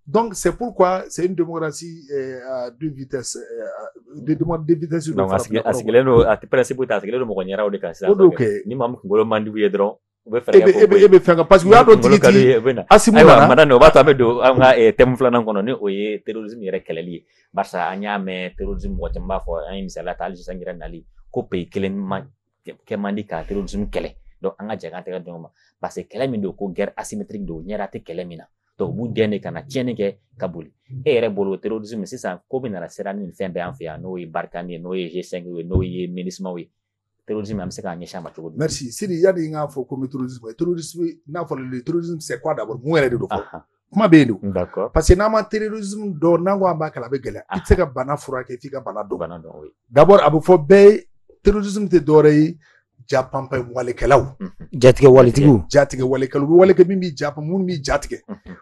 donc c'est pourquoi c'est une démocratie eh, à deux vitesses eh, de demande de vitesse donc a sigilen don a principe tɛ a sigilen don mɔgɔ ɲɛdaw de kan sisan o don kɛ ni maa min kunkolo man di u ye dɔrɔn u bɛ fɛɛrɛ kɛ k'o bɔ yen, e bɛ fɛn kan parce que u y'a dɔn tigitigi Asimi nana ayiwa madame o b'a to an bɛ don an ka eh, thème filanan kɔnɔ ni o ye terrorisme yɛrɛ kɛlɛli ye barisa an y'a mɛn terrorisme mɔgɔ caman b'a fɔ an ye misali ta hali sisan yɛrɛ nali ko pays kelen man kɛ man di ka terrorisme kɛlɛ donc an ka jɛ k'an tɛgɛ di ɲɔgɔn ma parce que kɛlɛ min don ko guerre asymétrique don ɲɛda tɛ kɛlɛ min na donc u b'u gɛn de ka na tiɲɛni kɛ ka boli e yɛrɛ bolo terrorisme sisan ko min nana sera ni nin fɛn bɛɛ an fɛ yan n'o ye Barkhane ye n'o ye G5 ye n'o ye Minusmaw ye terrorisme an bɛ se k'an ɲɛsin a ma cogo di merci Sidi yani n k'a fɔ ko n bɛ terrorisme kɛlɛ terrorisme n'a fɔra le terrorisme c'est quoi d'abord mun yɛrɛ de don fɔlɔ kuma bɛ yen don d'accord parce que n'an ma terrorisme dɔn n'an ko an b'a kɛlɛ a bɛ gɛlɛya i tɛ se ka bana furakɛ f'i ka bana dɔn bana dɔn oui d'abord a bɛ fɔ bɛɛ ye terrorisme tɛ dɔwɛrɛ ye japanpan walekɛlaw jatigɛ waletigiw jatigɛ walekɛlaw u bɛ wale kɛ min b'i ja minnu b'i jatigɛ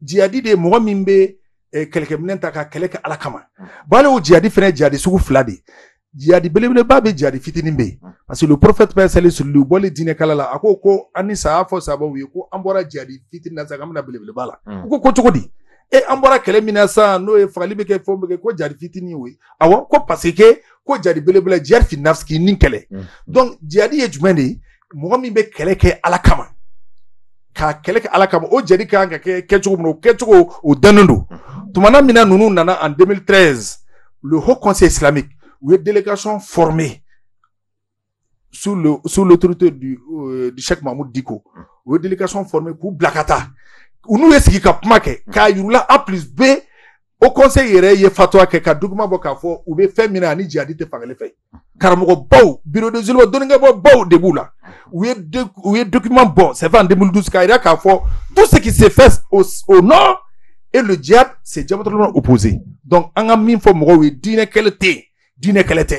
jihadi de ye mɔgɔ min bɛ eh, kɛlɛkɛminɛn ta ka kɛlɛ kɛ ala kama mm. bari o jihadi fana ye jihadi sugu fila de ye jihadi belebeleba bɛ jihadi fitinin bɛ yen mm. parce que le prophète paix salut sur lui u bɔlen diinɛ kɛlɛ la a ko ko an ni ce a y'a fɔ sahabaw ye ko an bɔra jihadi fitinin na sisan an bɛ na belebeleba la mm. u ko ko cogo di e an bɔra kɛlɛ min na sisan n'o ye fagali bɛ kɛ fɛnw bɛ kɛ ko jihadi fitinin o ye awɔ ko parce que ko jihadi belebeleba jihadi fi nafsi k'i ni kɛlɛ donc jihadi ye jumɛn de ye mɔgɔ min bɛ kɛlɛ kɛ ala kama k'a kɛlɛ kɛ ala kama o jihadi ka kan ka kɛ kɛcogo min o kɛcogo o dannen don tumana min na ninnu nana en 2013 le haut conseil islamique u ye délégation formée sous le sous l'autorité du euh, du Cheikh Mahmoud Dicko u ye délégation formée k'u bila ka taa u n'u ye sigi ka kuma kɛ k'a yir'u la A plus B o conseil yɛrɛ ye fatwa kɛ ka document bɔ k'a fɔ u bɛ fɛn min na ani jihadi tɛ fan kelen fɛ karamɔgɔbaw bureau des oulémas dɔnnikɛbaabaw de b'u la u ye u ye document bɔ c'est vrai en 2012 k'a jira k'a fɔ tout ce qui se fait au, au nord et le djihad c'est diamétralement opposé donc an ka min fɔ mɔgɔw ye diinɛ kɛlɛ tɛ yen diinɛ kɛlɛ tɛ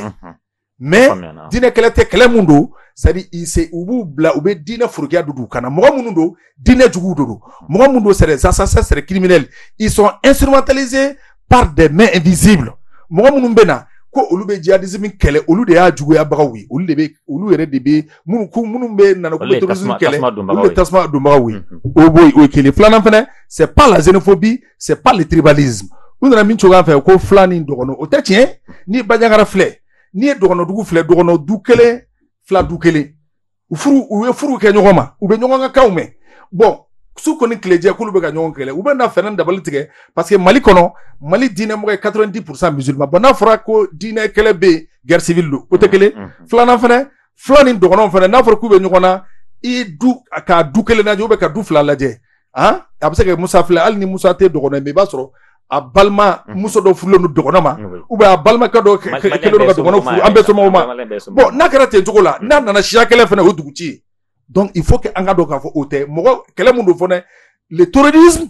mais diinɛ kɛlɛ tɛ kɛlɛ min don c'est à dire u b'u bila u bɛ diinɛ forokiya don u kan na mɔgɔ minnu don diinɛ juguw de don mɔgɔ minnu don c'est des assassins c'est des criminels ils sont instrumentalisés par des mains invisibles mɔgɔ minnu bɛ na ko olu bɛ jihadisme kɛlɛ olu de y'a juguyabagaw ye olu de bɛ olu yɛrɛ de bɛ minnu ko minnu bɛ nana ko bɛ terrorisme kɛlɛ olu de tasuma donbagaw ye o b'o ye o ye kelen filanan fana c'est pas la xénophobie c'est pas le tribalisme u nana min cogoya fɛ ko fula ni dɔgɔnɔ o tɛ tiɲɛ ni banjagara filɛ n'i ye dɔgɔnɔdugu filɛ dɔgɔnɔ du kelen fula du kelen u furu u ye furu kɛ ɲɔgɔn ma u bɛ ɲɔgɔn ka kanw mɛn bon su kɔni tilejɛ k'olu bɛ ka ɲɔgɔn kɛlɛ u bɛ na fɛɛrɛ dabali tigɛ parce que mali kɔnɔ mali diinɛ mɔgɔ ye quatre-vingt-dix pour cent musulman bon n'a fɔra ko diinɛ kɛlɛ bɛ yen guerre civile don o tɛ kelen filanan fana fula ni dɔgɔnɔ fana n'a fɔra k'u bɛ ɲɔgɔn na i ka du kelen lajɛ u bɛ ka du fila lajɛ han a bɛ se ka musa filɛ hali ni musa tɛ dɔgɔnɔ mais i b'a sɔrɔ a balima mhm. muso dɔ furulen don dɔgɔnɔ ma ou bien a balimakɛ dɔ kelen don ka dɔgɔnɔ furu an bɛɛ somɔgɔw ma bon n'a kɛra ten cogo la mhm. n'a nana siya kɛlɛ fana o dugu ci ye donc il faut que an ka dɔn k'a fɔ o tɛ mɔgɔ kɛlɛ mun don fana le terrorisme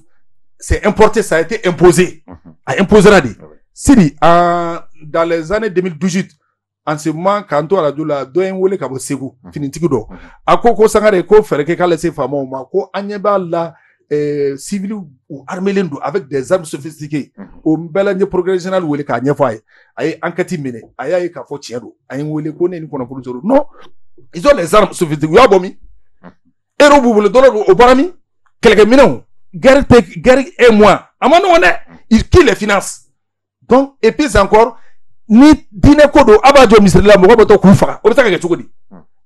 c'est importé ça a été imposé mhm. a imposera de sidi dans les années 2018 an se man k'an to arajo la dɔ ye n wele ka bɔ segu mhm. finitigi dɔ mhm. a ko ko sangare ko fɛɛrɛ kɛ k'ale se faamaw ma ko an ɲɛ b'a la siviliw u armelen don avec des armes sophistiquées mhm. o bɛɛ la n ye procureur général wele k'a ɲɛfɔ a ye a ye enquête minɛ a y'a ye k'a fɔ tiɲɛ don a ye n wele ko ne ni kɔnɔkulu sɔrɔ non ils ont les armes sophistiquées u y'a bɔ min euro b'u bolo dollar o bɔra min kɛlɛkɛminɛnw guerre tɛ guerre est moins a man nɔgɔn dɛ qui les finance donc et puis encore ni diinɛ ko don a b'a jɔ misiri da la mɔgɔ bɔtɔ k'u faga o bɛ se ka kɛ cogo di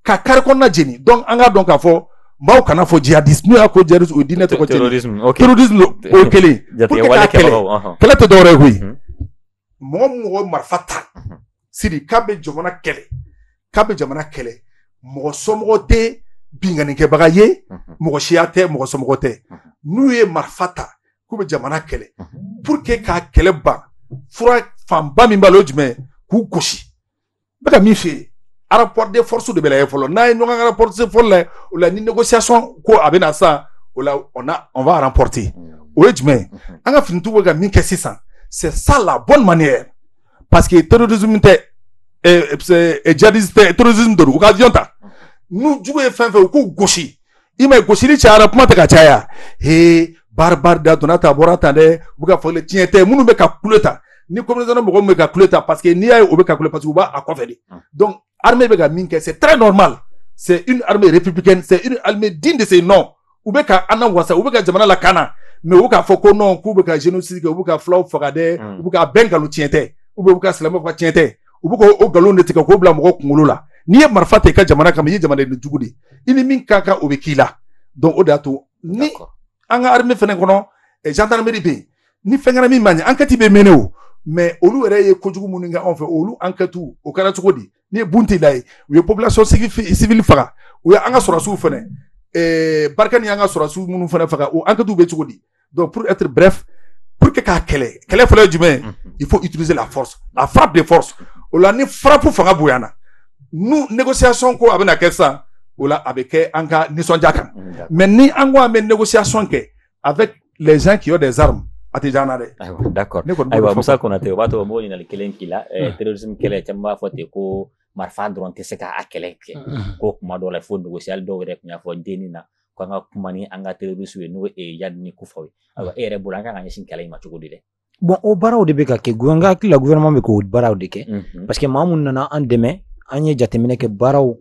ka kari kɔnɔna jeni donc an k'a dɔn k'a fɔ maaw kan'a fɔ jihadisme n'u y'a ko jihadisme o ye diinɛ tɔgɔ cɛnni terrorisme ok terrorisme don o ye kelen ye pour que Jatigɛwale k'a kɛlɛ kɛbagaw, ɔhɔn. kɛlɛ tɛ dɔwɛrɛ ye koyi Mhm. mɔgɔ min mɔgɔ ye marifa ta sidi k'a bɛ jamana kɛlɛ k'a bɛ jamana kɛlɛ mɔgɔ somɔgɔ tɛ binkannikɛbaga ye mhm. mɔgɔ siya tɛ mɔgɔ somɔgɔ tɛ mhm. n'u ye marifa ta k'u bɛ jamana kɛlɛ mhm. pour que k'a kɛlɛ ban fura fanba min b'a la o jumɛn k'u gosi n bɛ ka min f'i ye rapport de force de bɛ lajɛ fɔlɔ n'a ye ɲɔgɔn ka rapport de force lajɛ o la ni négociation ko a bɛ na sisan o la on a on va remporter o ye jumɛn ye an ka finitigiw bɛ ka min kɛ sisan c'est ça la bonne manière parce que terrorisme tɛ djihadiste tɛ terrorisme de don u ka avion ta n'u jugu ye fan fɛ u k'u gosi i m'a ye gosili cayara kuma tɛ ka caya he baari baari da donna ta bɔra tan dɛ u bɛ ka fɔli tiɲɛ tɛ minnu bɛ ka kule ta ni communauté mɔgɔ min bɛ ka kule ta parce que n'i y'a ye o bɛ ka kule parce que u b'a a kɔfɛ de donc armée bɛ ka min kɛ c'est très normal c'est une armée républicaine c'est une armée digne de ce nom u bɛ ka an wasa u bɛ ka jamana lakana mais u k'a fɔ ko non k'u bɛ ka génocide kɛ u bɛ ka fulaw faga dɛ u bɛ ka bɛn nkalon tiɲɛ tɛ u bɛ u ka silamɛw ka tiɲɛ tɛ u bɛ k'o nkalon de tigɛ k'o bila mɔgɔw kunkolo la n'i ye marifa ta i ka jamana kama i ye jamanaden jugu de i ni min ka kan o bɛ k'i la donc o de y'a to ni an ka armée fana kɔnɔ gendarmerie bɛ yen ni fɛn kɛra min man ɲi ankɛti bɛ mener mais olu yɛrɛ ye kojugu minnu kɛ anw fɛ olu ankɛti o kɛra cogo di ni Bunti la ye u ye population civile faga u ye an ka sɔrɔsiw fɛnɛ ɛɛ Barkhane an ka sɔrɔsiw minnu fɛnɛ faga o ankɛti bɛ cogo di donc pour être bref pour que k'a kɛlɛ kɛlɛ fɔlɔ ye jumɛn ye il faut utiliser la force la frappe de force o la ni frappe fanga bonyana ni négociation ko a bɛna kɛ sisan o la a bɛ kɛ an ka nisɔndiya kan mais ni an ko an bɛ négociation kɛ avec les gens qui ont des armes a tɛ diya an na dɛ. ayiwa d'accord ayiwa Musa Konate o b'a to mɔgɔ ɲininkali kelen k'i la eh, hmm. terrorisme kɛlɛ caman b'a fɔ ten ko marifa dɔrɔn tɛ se k'a kɛlɛ kɛ hmm. ko kuma dɔw la fo negosiyali dɔw yɛrɛ tun y'a fɔ DNI na ko an ka kuma ni an ka terrorisiw ye n'o ye Iyadi ni Kufaw ye ayiwa e yɛrɛ bolo an kan ka ɲɛsin kɛlɛ in ma cogo di dɛ. bon o baaraw de bɛ ka kɛ n ka hakili la gouvernement bɛ k'o baaraw de kɛ mhm. parce que maa minnu nana an dɛmɛ an ye jateminɛ kɛ baaraw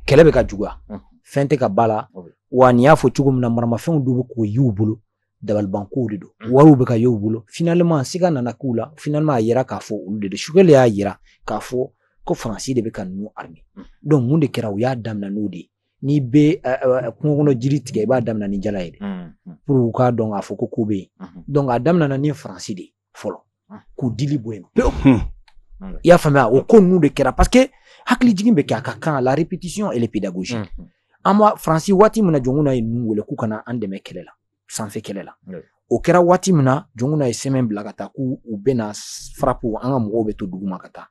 kɛlɛ bɛ ka juguya mhm. fɛn tɛ ka b'a la wa ne y'a fɔ cogo min na maramafɛnw dɔw bɛ ka y'u bolo dabalibankow de don mhm. wariw bɛ ka y'u bolo finalement siga nana k'u la finalement a yera k'a fɔ olu de don Choguel y'a yira k'a fɔ ko faransi de bɛ ka ninnu armer donc mun de kɛra u y'a daminɛ n'o de ye n'i bɛ kungo kɔnɔ jiri tigɛ i b'a daminɛ ni jala ye dɛ pour u k'a dɔn k'a fɔ ko ko bɛ yen donc a daminɛna ni faransi de ye fɔlɔ k'u dili bɔ yen pewu i y'a faamuya o ko ninnu de kɛra parce que hakili jigin bɛ kɛ a ka kan la répétition elle est pédagogique an b'a faransi waati min na Jɔnkunda ye ninnu wele k'u ka na an dɛmɛ kɛlɛ la sanfɛ kɛlɛ la o kɛra waati min na Jɔnkunda ye sɛbɛn bila ka taa k'u u bɛna frapper an ka mɔgɔw bɛ to duguma ka taa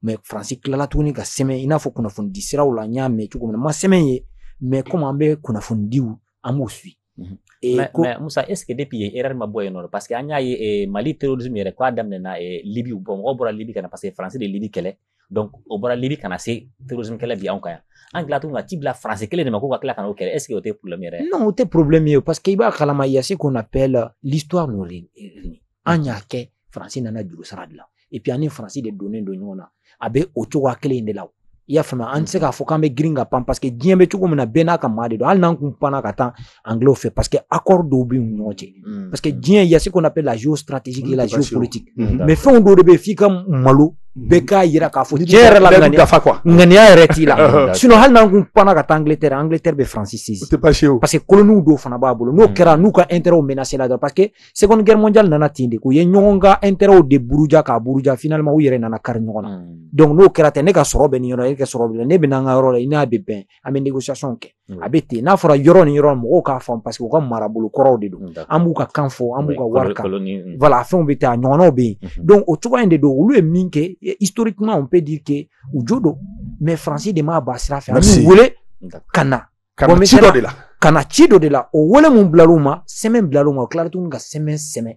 mais faransi tilala tuguni ka sɛbɛn i n'a fɔ kunnafonidi siraw la n y'a mɛn cogo min na n ma sɛbɛn ye mais komi an bɛ kunnafonidiw an b'u su musa est ce que de tun ye e ma bɔ yen non parce que an y'a ye mali terrorisme yɛrɛ k'a daminɛna libi bɔ mɔgɔ bɔra libi ka na parce que faransi de libi kɛlɛ donc o bɔra libi ka na se terrorisme kɛlɛ bi anw kan yan an tila tuguni ka ci bila faransi kelen de ma ko ka tila ka n'o kɛlɛ est ce que o tɛ problème yɛrɛ non o tɛ problème ye parce que i b'a kalama il y a ce qu'on appelle euh, l'histoire nous réunit an y'a kɛ faransi nana juru sara de la et puis an ni faransi de donnen don ɲɔgɔn na a bɛ o cogoya kelen de la i y'a faamuya an tɛ se k'a fɔ k'an bɛ girin ka pan parce que diɲɛ bɛ cogo min na bɛɛ n'a ka maa de don hali n'an kun panna ka taa anglo fɛ parce que accord dɔw bɛ u ɲɔgɔn cɛ mm. parce que mm. diɲɛ y a ce qu'on appelle la géostratégique et la géopolitique mm. mais fɛnw dɔw de bɛ f'i ka malo bɛɛ k'a yira k'a fɔ diɲɛ yɛrɛ la ŋaniya yɛrɛ t'i la sinon hali n'an kun panna ka taa angleterre angleterre bɛ faransi saisir parce que koloniw dɔw fana b'a bolo n'o kɛra n'u ka intérêtw menacé la dɔrɔn parce que seconde guerre mondiale nana ten de k'u ye ɲɔgɔn ka intérêtw de buruja k'a buruja finalement u yɛrɛ nana kari ɲɔgɔn na donc n'o kɛra tɛ ne ka sɔrɔ bɛ nin yɔrɔ e ka sɔrɔ bɛ ne bɛ n'an ka yɔrɔ la i n'a bɛ bɛn an bɛ négociation kɛ a bɛ ten n'a fɔra yɔrɔ ni yɔrɔ mɔgɔw k'a fɔ parce que u ka marabolo kɔrɔw de don an b'u ka kan fɔ an b'u ka wari kan wala fɛnw bɛ taa ɲɔgɔnw bɛ yen donc o cogoya in de don olu ye min kɛ isitori kuma on peut dire que u jo don mais faransi de m'a ba sira fɛ an b'u wele ka na ka na ci dɔ de la ka na ci dɔ de la o wele mun bilal'u ma sɛbɛn bilal'u ma o tilala tuguni ka sɛbɛn sɛbɛn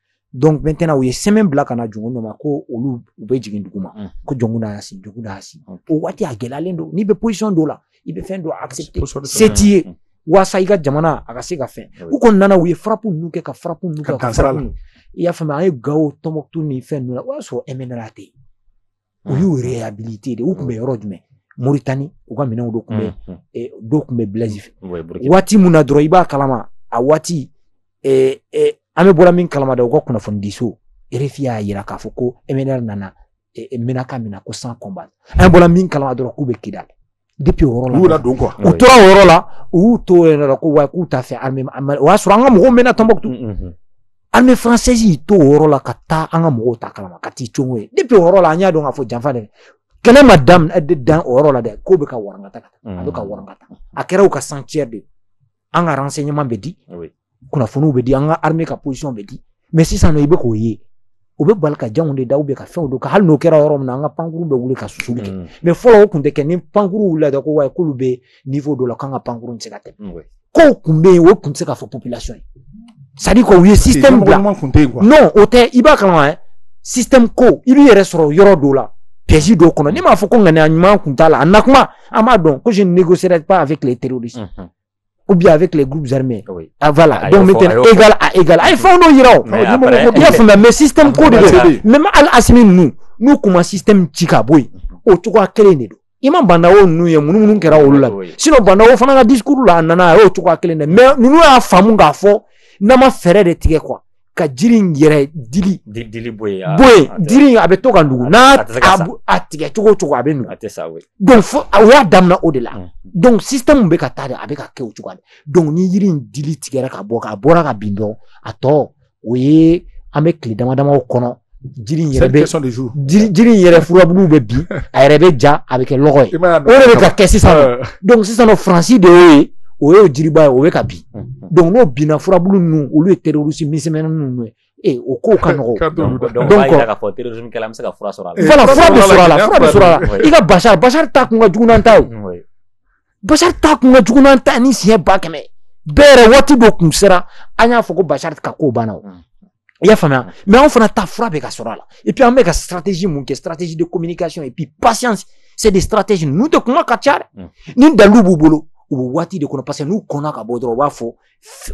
donc maintenant u ye sɛbɛn bila ka na jɔnkunda ma ko olu u bɛ jigin dugu ma ko jɔnkunda y'a signer jɔnkunda y'a signer o waati a gɛlɛyalen don n'i bɛ position dɔ la i bɛ fɛn dɔ accepter se t'i ye waasa i ka jamana a ka se ka fɛn u kɔni nana u ye farapu ninnu kɛ ka farapu ninnu kɛ ka farapu i y'a faamuya an ye gawo tɔnbukutu ni fɛn ninnu na o y'a sɔrɔ MNLA tɛ yen u y'u réhabiliter de u tun bɛ yɔrɔ jumɛn moritani u ka minɛnw dɔ tun bɛ dɔw tun bɛ Blaise fɛ waati min na dɔrɔn i b'a kalama a waati an bɛɛ bɔra min kalama da u ka kunnafonidiso RFI y'a jira k'a fɔ ko MNLA nana Ménaka minɛ ko sans combat an bɔra min kalama dɔrɔn k'u bɛ Kidal depuis o yɔrɔ la u yɛrɛ don quoi u tora o yɔrɔ la u y'u to o yɔrɔ la ko wa k'u t'a fɛ armée o y'a sɔrɔ an ka mɔgɔw mɛnna Tombouctou armée française y'i to o yɔrɔ la ka taa an ka mɔgɔw t'a kalama ka t'i congo ye depuis o yɔrɔ la an y'a dɔn k'a fɔ janfa de kɛlɛ ma daminɛ dan o yɔrɔ la dɛ k'o bɛ ka warangata ka taa a bɛ ka warangata a kɛra u ka sanctuaire de ye an ka renseignement bɛ di kunnafoniw bɛ di an ka armée ka position bɛ di mais sisan i bɛ k'o ye u bɛ bali ka janw de da bɛ ka fɛnw don ka hali n'o kɛra yɔrɔ min na an ka pankurun bɛ wuli ka su kɛ mm. mais fɔlɔ o tun tɛ kɛ ni pankurun wili ko wa k'olu bɛ niveau dɔ la k'an ka pankurun se ka tɛ ko tun bɛ yen o tun se ka fɔ population ye c'est-à-dire ko u ye si bila n'o o tɛ i b'a kama si ko i b'i yɛrɛ sɔrɔ yɔrɔ dɔw la psi dɔw kɔnɔ ne m'a fɔ ko ŋaniya ɲuman tun t'a la a na kuma an b'a dɔn ko je ne négocierai pas avec les terroristes mhm. ou bien avec les groupes armés oui. ah, voilà donc maintenant égal à égal a ye fɛn dɔ yira o i y'a faamuya mais système ko de don même hali asimi ninnu n'u kun ma système ci ka bɔ yen o cogoya kelen de don i ma Bah N'Daw ninnu ye minnu minnu kɛra olu la sinon Bah N'Daw fana ka discours la a nana a y'o cogoya kelen de mais ninnu y'a faamu k'a fɔ n'an ma fɛɛrɛ de tigɛ quoi ka jiri in yɛrɛ dili dili bɔ yen bɔ yen jiri in a bɛ to ka nugu n'a a tigɛ cogo cogo a bɛ nugu a tɛ sa we donc fo a y'a daminɛ o de la donc système bɛ ka taa de a bɛ ka kɛ o cogo de donc ni yiri in dili tigɛra ka bɔ ka bɔra ka bin dɔrɔn a tɔ o ye an bɛ tile dama damaw kɔnɔ jiri in yɛrɛ bɛ jiri in yɛrɛ furabulu bɛ bin a yɛrɛ bɛ ja a bɛ kɛ lɔgɔ ye o de bɛ ka kɛ sisan nɔ sisan nɔ faransi de y'o ye o y'o jiriba ye o bɛ ka bin n'o binna furabulu ninnu olu ye terorisi misɛnmani ninnu ye ee o kow ka nɔgɔ k'a fɔ terorisinikɛla bɛ se ka fura sɔrɔ a la fura bɛ sɔrɔ a la fura bɛ sɔrɔ a la i ka basari basari ta kun ka jugu n'an ta ye basari ta kun ka jugu n'an ta ni siɲɛ ba kɛmɛ bɛɛ yɛrɛ waati dɔ kun sera an y'a fɔ ko basari ka ko banna o i y'a faamuya mais anw fana ta fura bɛ ka sɔrɔ a la et puis an bɛ ka stratégie mun kɛ stratégie de communication et puis patience c'est des stratégies ninnu tɛ kuma ka caya dɛ ni dalilu b'u bolo u bɛ waati de kɔnɔ parce que n'u kɔnna ka bɔ dɔrɔn u b'a fɔ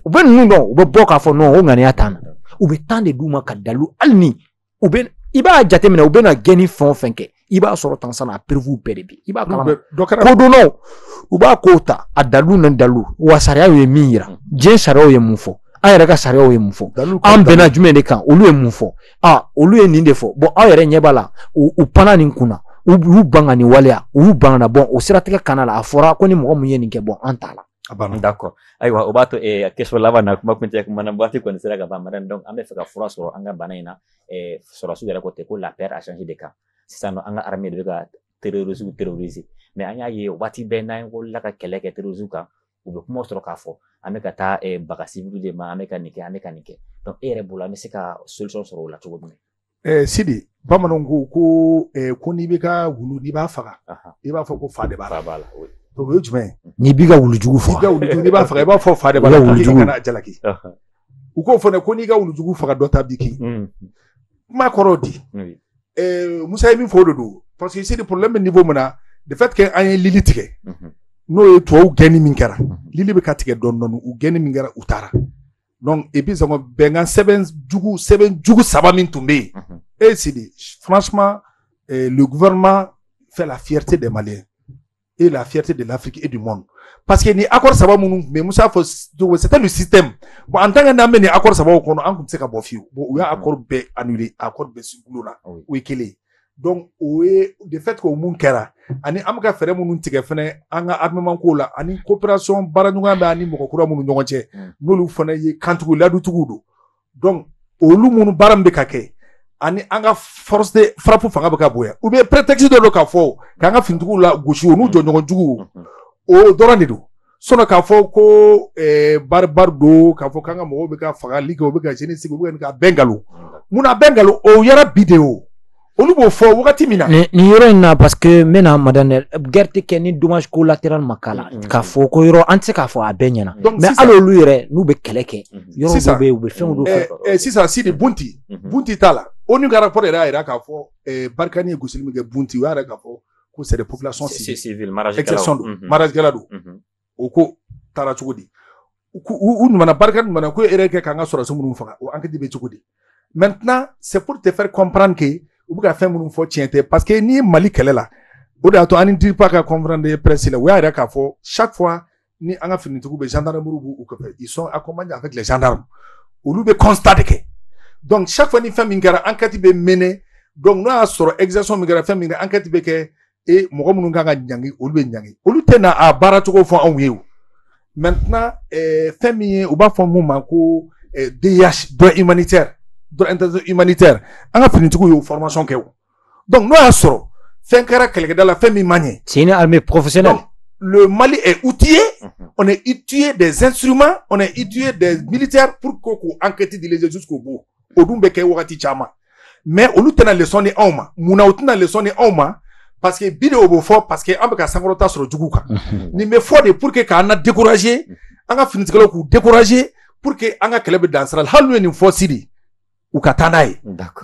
u bɛ ninnu dɔn u bɛ bɔ k'a fɔ non o ŋaniya t'an na u bɛ temps de d'u ma ka dalilu hali ni u bɛ i b'a jateminɛ u bɛna gɛnni fɛn o fɛn kɛ i b'a sɔrɔ tansan a preuvew bɛɛ de bi i b'a kalama kodɔnnaw u b'a kow ta a dalilu n'a dalilu wa sariyaw ye min yira diɲɛ sariyaw ye mun fɔ an yɛrɛ ka sariyaw ye mun fɔ an bɛnna jumɛn de kan olu ye mun fɔ a olu ye nin de fɔ bon aw yɛrɛ ɲɛ b'a la u panna nin kun na u y'u ban ka nin waleya u y'u ban ka na bon o siratigɛ kɔnɔna la a fɔra ko ni mɔgɔ mun ye nin kɛ bon an t'a la a banna d'accord ayiwa o b'a to eh, question laban na kuma kuncɛ kuma na waati kɔni sera ka ban madame donc an b'a fɛ ka fura sɔrɔ an ka bana in na sɔrɔdasiw yɛrɛ ko ten ko la peur a changé de camp sisan nɔ an ka armée de bɛ ka terrorisiw terroriser mais an y'a ye waati bɛɛ n'an wulila ka kɛlɛ kɛ terrorisiw kan u bɛ kuma sɔrɔ k'a fɔ an bɛ ka taa baga civil de ma an bɛ ka nin kɛ an bɛ ka nin kɛ donc e yɛrɛ bolo an bɛ se ka solution sɔrɔ o la cogo min na. sidi bamananw ko ko ko n'i b'i ka wulu n'i b'a faga i b'a fɔ ko fa de b'a la o ye jumɛn ye n'i b'i ka wulujugu faga n'i b'a faga i b'a fɔ fa de b'a la wulujugu kana jalaki u k'o fana ko n'i ka wulujugu faga dɔ ta b'i kin mm. kuma kɔrɔ di eh, musa ye min fɔ o de don parce que sidi problème bɛ niveau min na de fait que an ye lili tigɛ mm-hmm. n'o ye tubabu gɛnni min kɛra mm-hmm. lili bɛ ka tigɛ dɔɔni dɔɔni u gɛnni min kɛra u taara donc et puis sango bɛnkan sɛbɛn jugu sɛbɛn jugu saba min tun bɛ yen mm-hmm. e sidi franchement eh, le gouvernement fait la fierté des maliens et la fierté de l'Afrique et du monde. Parce que nin accord saba minnu mais Moussa fɔ c'était le système. Bon en tant que n'an bɛ nin accord sabaw kɔnɔ an tun tɛ se ka bɔ fiyewu. Bon u y'a mm-hmm. accord bɛɛ annuler accord bɛɛ si gulo la. O ye kelen ye. Donc o ye de fait que o mun kɛra ani an bɛ ka fɛɛrɛ minnu tigɛ fɛnɛ an ka armement ko la ani coopération baaraɲɔgɔnya b'an ni mɔgɔ kura minnu ɲɔgɔn cɛ mm. n'olu fana ye kantigi layidutigiw don. olu munnu baara min bɛ ka kɛ ani an ka frappe fanga bɛ ka bonya u bɛ prétexte dɔ don k'a fɔ k'an ka finitigiw lagosi u n'u jɛɲɔgɔn jugu o dɔrɔn de don sinon k'a fɔ ko barbare don k'a fɔ k'an ka mɔgɔw bɛ ka fagali kɛ u bɛ ka sini sigi u bɛ ka bɛn nkalon munna bɛn nkalon o yɛrɛ bi de o olu b'o fɔ wagati min na nin yɔrɔ in na parce que n bɛna madame guerre tɛ kɛ ni dommage collatéral ma k'a la mm-hmm. k'a fɔ ko yɔrɔ an tɛ se k'a fɔ a bɛɛ ɲɛna mais hali olu yɛrɛ n'u bɛ kɛlɛ kɛ mm-hmm. yɔrɔ dɔ bɛ yen u bɛ fɛnw dɔ fɛ eh, eh, sisan sidi bunti mm-hmm. bunti ta la onu ka rapport yɛrɛ y'a jira k'a fɔ eh, barikani ye gosili min kɛ bunti u y'a yira k'a fɔ ko c'est des populations civiles exception don mariage kɛla don o ko taara cogo di u nana barikani nana ko e kɛ k'an ka sɔrɔsi minnu faga o ankɛti bɛ cogo di maintenant c'est pour te faire comprendre que u bɛ ka fɛn minnu fɔ tiɲɛ tɛ parce que n'i ye mali kɛlɛ la o de y'a to an ni dirpa ka conférence de presse la u y'a yira k'a fɔ chaque fois ni an ka finitigiw bɛ zandaramuw b'u kɔfɛ ils sont accompagnés avec les gendarmes olu bɛ constat de kɛ donc chaque fois ni fɛn min kɛra ankɛti bɛ mené donc n'o y'a sɔrɔ exaction min kɛra fɛn min kɛra ankɛti bɛ kɛ e mɔgɔ minnu kan ka ɲangi olu bɛ ɲangi olu tɛ na a baara cogo fɔ anw ye o maintenant eh, fɛn min ye u b'a fɔ min ma ko eh, DIH droit humanitaire droit international humanitaire an ka finitigiw y'o formation kɛ o donc n'o y'a sɔrɔ fɛn kɛra kɛlɛkɛda la fɛn min man ɲi c'est une armée professionnelle le Mali est outillé, mhm. on est outillé des instruments, on est outillé des militaires pour qu'on enquête les jusqu'au bout. o dun bɛ kɛ wagati caman mais olu tɛna lesɔn di anw ma munna u tɛna lesɔn di anw ma parce que bi de o bɛ fɔ parce que an bɛ ka sankɔrɔta sɔrɔ jugu kan nin bɛ fɔ de pour que k'an na décourager an ka finitigilaw k'u décourager pour que an ka kɛlɛ bɛ dan sira la hali n'u ye nin fɔ sidi u ka taa n'a ye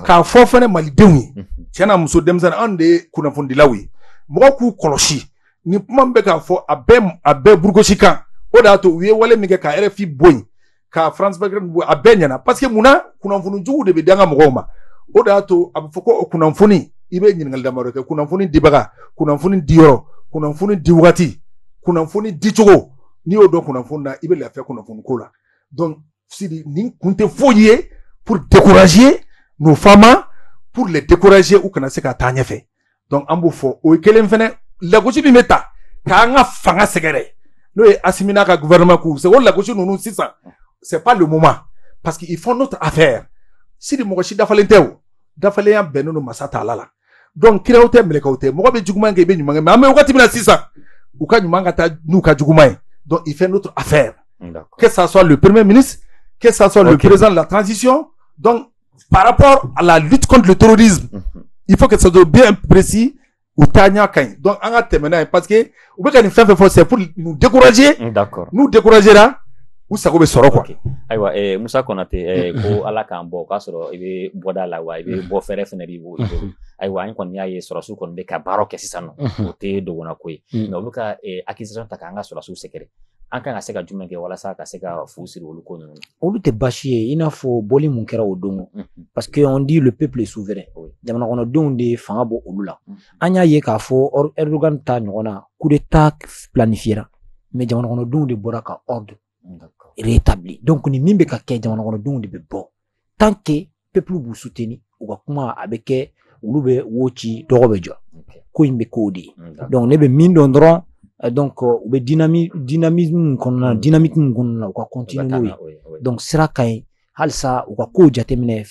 k'a fɔ fɛnɛ malidenw ye tiɲɛna muso denmisɛnnin anw de ye kunnafonidilaw ye mɔgɔw k'u kɔlɔsi nin kuma min bɛ k'a fɔ a bɛɛ a bɛɛ burugosi kan o de y'a to u ye wale min kɛ ka rfi bɔ yen ka france vingt-quatre a bɛɛ ɲɛna parce que mun na kunnafoni jugu de bɛ danga mɔgɔw ma o de y'a to a bɛ fɔ ko o kunnafoni i bɛ ɲininkali damadɔ kɛ kunnafoni dibaga kunnafoni diyɔrɔ kunnafoni di wagati kunnafoni dicogo n'i y'o dɔn kunnafoni na i bɛ lafiya kunnafoni ko la donc sidi nin kun tɛ foyi ye pour décourager nos fama pour les décourager u kana se ka taa ɲɛfɛ donc an b'o fɔ o ye kelen fɛnɛ lagosi min bɛ ta k'an ka fanga sɛgɛrɛ n'o ye asimi n'a ka gouvernement k'u se o lagosi ninnu sisan c'est pas le moment parce que ils font notre affaire sidi mɔgɔ si dafalen tɛ o dafalenya bɛnnen don masa taala la donc kiraw tɛ mɛlɛkɛw tɛ mɔgɔ bɛ juguman kɛ i bɛ ɲuman kɛ mais an bɛ wagati min na sisan u ka ɲuman ka ca n'u ka juguman ye donc il fait notre affaire que ça soit le premier ministre que ça soit okay. le président de la transition donc par rapport à la lutte contre le terrorisme mhm. il faut que ça soit bien précis u taa ɲa ka ɲi donc an ka parce que u bɛ ka nin fɛn fɛn c'est pour nous décourager mm, d'accord nous décourager la u sago bɛ sɔrɔ quoi okay. ayiwa eh, Musa Konate eh, ko ala k'an bɔ o k'a sɔrɔ i bɛ bɔda la wa i bɛ bɔ fɛɛrɛ fana b'i bolo mhm. ayiwa an kɔni y'a ye sɔrɔsiw kɔni bɛ ka baara kɛ sisan nɔ mhm. o tɛ dogona ko ye mais u bɛ ka eh, accusation ta k'an ka sɔrɔsiw sɛgɛrɛ an kan ka se ka jumɛn kɛ walasa ka se ka fu siri olu ko ninnu olu tɛ baasi ye i n'a fɔ bɔli mun kɛra o don parce que on dit le peuple est souverain jamanakɔnɔdenw de fanga b'olu la an y'a ye k'a fɔ Erdogan ta ɲɔgɔn na coup d'état planifiera mais jamanakɔnɔdenw de bɔra ka ordre rétabli donc ni min bɛ ka kɛ jamanakɔnɔdenw de bɛ bɔ tant que peuple b'u soutenir u ka kuma a bɛ kɛ wulu bɛ wo ci dɔgɔ bɛ jɔ ko in bɛ k'o de ye donc ne bɛ min dɔn dɔrɔn euh, donc euh, u bɛ dynamisme min kɔnɔna na mm. dynamique min kɔnɔna na u ka continuer n'o ye donc sira ka ɲi halisa u ka kow jateminɛ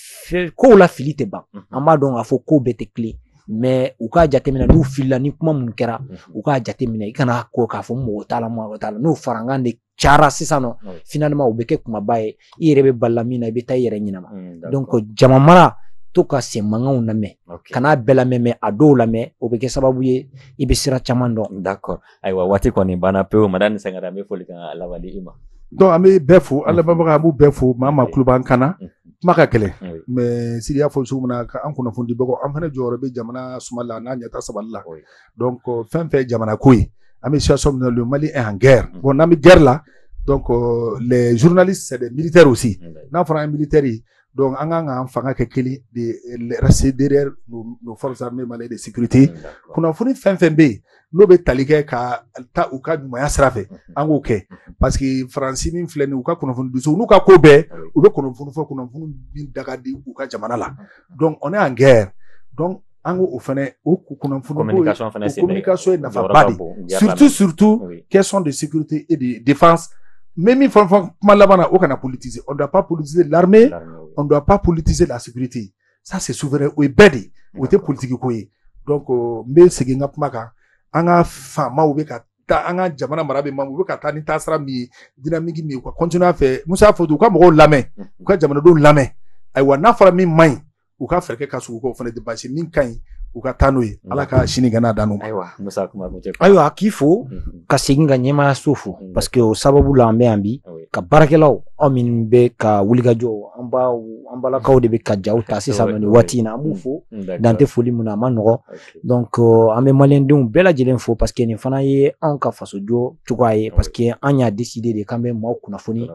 kow la fili tɛ ban mm-hmm. an b'a dɔn k'a fɔ kow bɛɛ tɛ tilen mais u k'a jateminɛ n'u filila ni kuma minnu kɛra mhm. u k'a jateminɛ i kana ko k'a fɔ mɔgɔ t'a la mɔgɔ t'a la n'o farankan de cayara sisan nɔ Oui. finalement o bɛ kɛ kumaba ye i yɛrɛ bɛ bala min na i bɛ taa i yɛrɛ ɲɛnama Mm, d'accord. donc jama mara to ka sen mankanw lamɛn Ok. kan'a bɛɛ lamɛn mais a dɔw lamɛn o bɛ kɛ sababu ye i bɛ sira caman dɔn D'accord. Ayiwa waati kɔni banna pewu madame ni sangara an bɛ foli kan laban di i ma. donc an bɛ bɛɛ fo an lamɛnbaga an b'u bɛɛ fo maa o maa tulo b'an kan na Mhm. kuma ka gɛlɛn Oui. mais sidi y'a fɔ cogo min na ka an kunnafonidibagaw an fana jɔyɔrɔ bɛ jamana suma la n'a ɲɛtaa sabati la Oui. donc euh, fɛn fɛn ye jamana ko ye an bɛ situation min na le Mali est en guerre mm. bon n'an bɛ guerre la donc euh, les journalistes c'est des militaires aussi mm. n'a fɔra an ye militaire ye donc an kan k'an fanga kɛ kelen de rester derrière nos, nos forces armées maliennes de sécurité mm, kunnafoni fɛn fɛn bɛ yen n'o bɛ tali kɛ ka taa u ka ɲumanya sira fɛ an k'o kɛ parce que faransi min filɛ nin ye u ka kunnafonidisow n'u ka ko bɛɛ u bɛ kunnafoni fɔ kunnafoni min da ka di u ka jamana la donc on est en guerre donc an ko o fana o kunnafoni communication fana sen communication ye nafaba de ye surtout surtout question de sécurité et de défense mais min fɛn fɛn kuma laban na o kana politiser on doit pas politiser l'armée on doit pas politiser la sécurité ça c'est souverain o ye bɛɛ de ye o tɛ politiki ko ye donc euh, n bɛ segin n ka kuma kan an ka faamaw bɛ ka taa an ka jamana mara bɛ mamu u bɛ ka taa ni taasira min ye dynamique min ye u ka continuer a fɛ musa y'a fɔ u ka mɔgɔw lamɛn u ka jamanadenw lamɛn ayiwa n'a fɔra min man ɲi u ka fɛɛrɛ ka sugu k'o fana de basi min ka ɲi u ka taa n'o ye ala ka sini gana dan ayiwa ayiwa k'i fo mhm. ka segin ka ɲɛmaya so fo mhm. parce que o sababu la an bɛ yan bi ah ka baarakɛlaw aw minnu bɛ ka wulikajɔ an baw an balakaw de bɛ ka jaw ta sisan nɔ nin waati in na an b'u fo mhm. dan tɛ foli min na a ma nɔgɔ donc euh, an bɛ maliyɛndenw bɛɛ lajɛlen fo parce que nin fana ye anw ka fasojɔ cogoya ye parce que an y'a décider de k'an bɛ maaw kunnafoni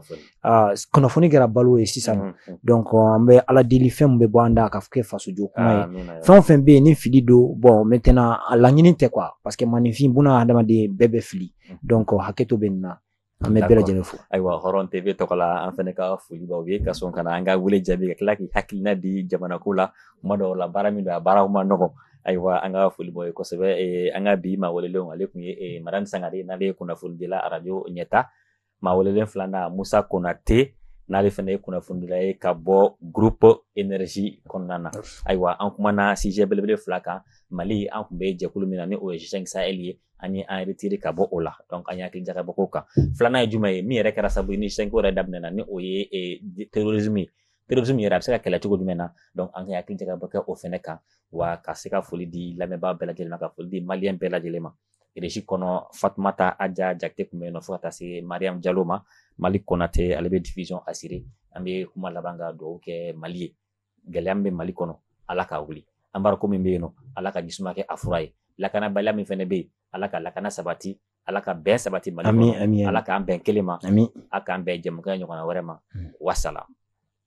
Ah, kunnafoni kɛra balo ye sisan mm, mm. donc an bɛ ala deli fɛn min bɛ bɔ an da ka kɛ fasojɔ kuma ye ah, fɛn o fɛn bɛ yen ni fili don bon maintenant a laɲini tɛ quoi parce que maaninfin buna hadamaden bɛɛ bɛ fili mm. donc hakɛto bɛ nin na an bɛ bɛɛ lajɛlen fo ayiwa hɔrɔn tv tɔgɔ la an fana ka foli b'aw ye ka sɔn ka na an ka wele jaabi ka tila k'i hakilina di jamanako la kuma dɔw la baara min don a baara man nɔgɔn ayiwa an ka foli b'aw ye kosɛbɛ eh, an ka bi maa welelenw ale tun ye eh, madame sangare n'ale ye kunnafonidila arajo ɲɛta maa welelen filanan musa konate n'ale fana ye kunnafonidila ye ka bɔ groupe énergie kɔnɔna na ayiwa an kumana sujet belebele fila kan mali an kun bɛ jɛkulu min na ni o ye g5 sahel ye an ye an retire ka bɔ o la donc an ye hakili jagabɔ k'o kan filanan ye jumɛn ye min yɛrɛ kɛra sabu ni g5 yɛrɛ daminɛna ni o ye eh, terrorisme ye terrorisme yɛrɛ a bɛ se ka kɛlɛ cogo jumɛn na donc an ka hakili jagabɔ kɛ o fɛnɛ kan wa ka se ka foli di lamɛnbaa bɛɛ lajɛlen ma ka foli di maliyɛn bɛɛ lajɛlen ma Régie kɔnɔ fatumata aja jate tun bɛ yen nɔ fo ka taa se mariamu jalo ma mali konate ale bɛ diffusion assurer an bɛ kuma laban ka dugawu kɛ mali ye gɛlɛya min bɛ mali kɔnɔ ala k'a wuli embargo min bɛ yen nɔ ala ka jisuma kɛ a fura ye lakanabaliya min fana bɛ yen ala ka lakana sabati ala ka bɛn sabati mali ala k'an bɛn kelen ma a k'an bɛn jɛmukan wɛrɛ ma wasala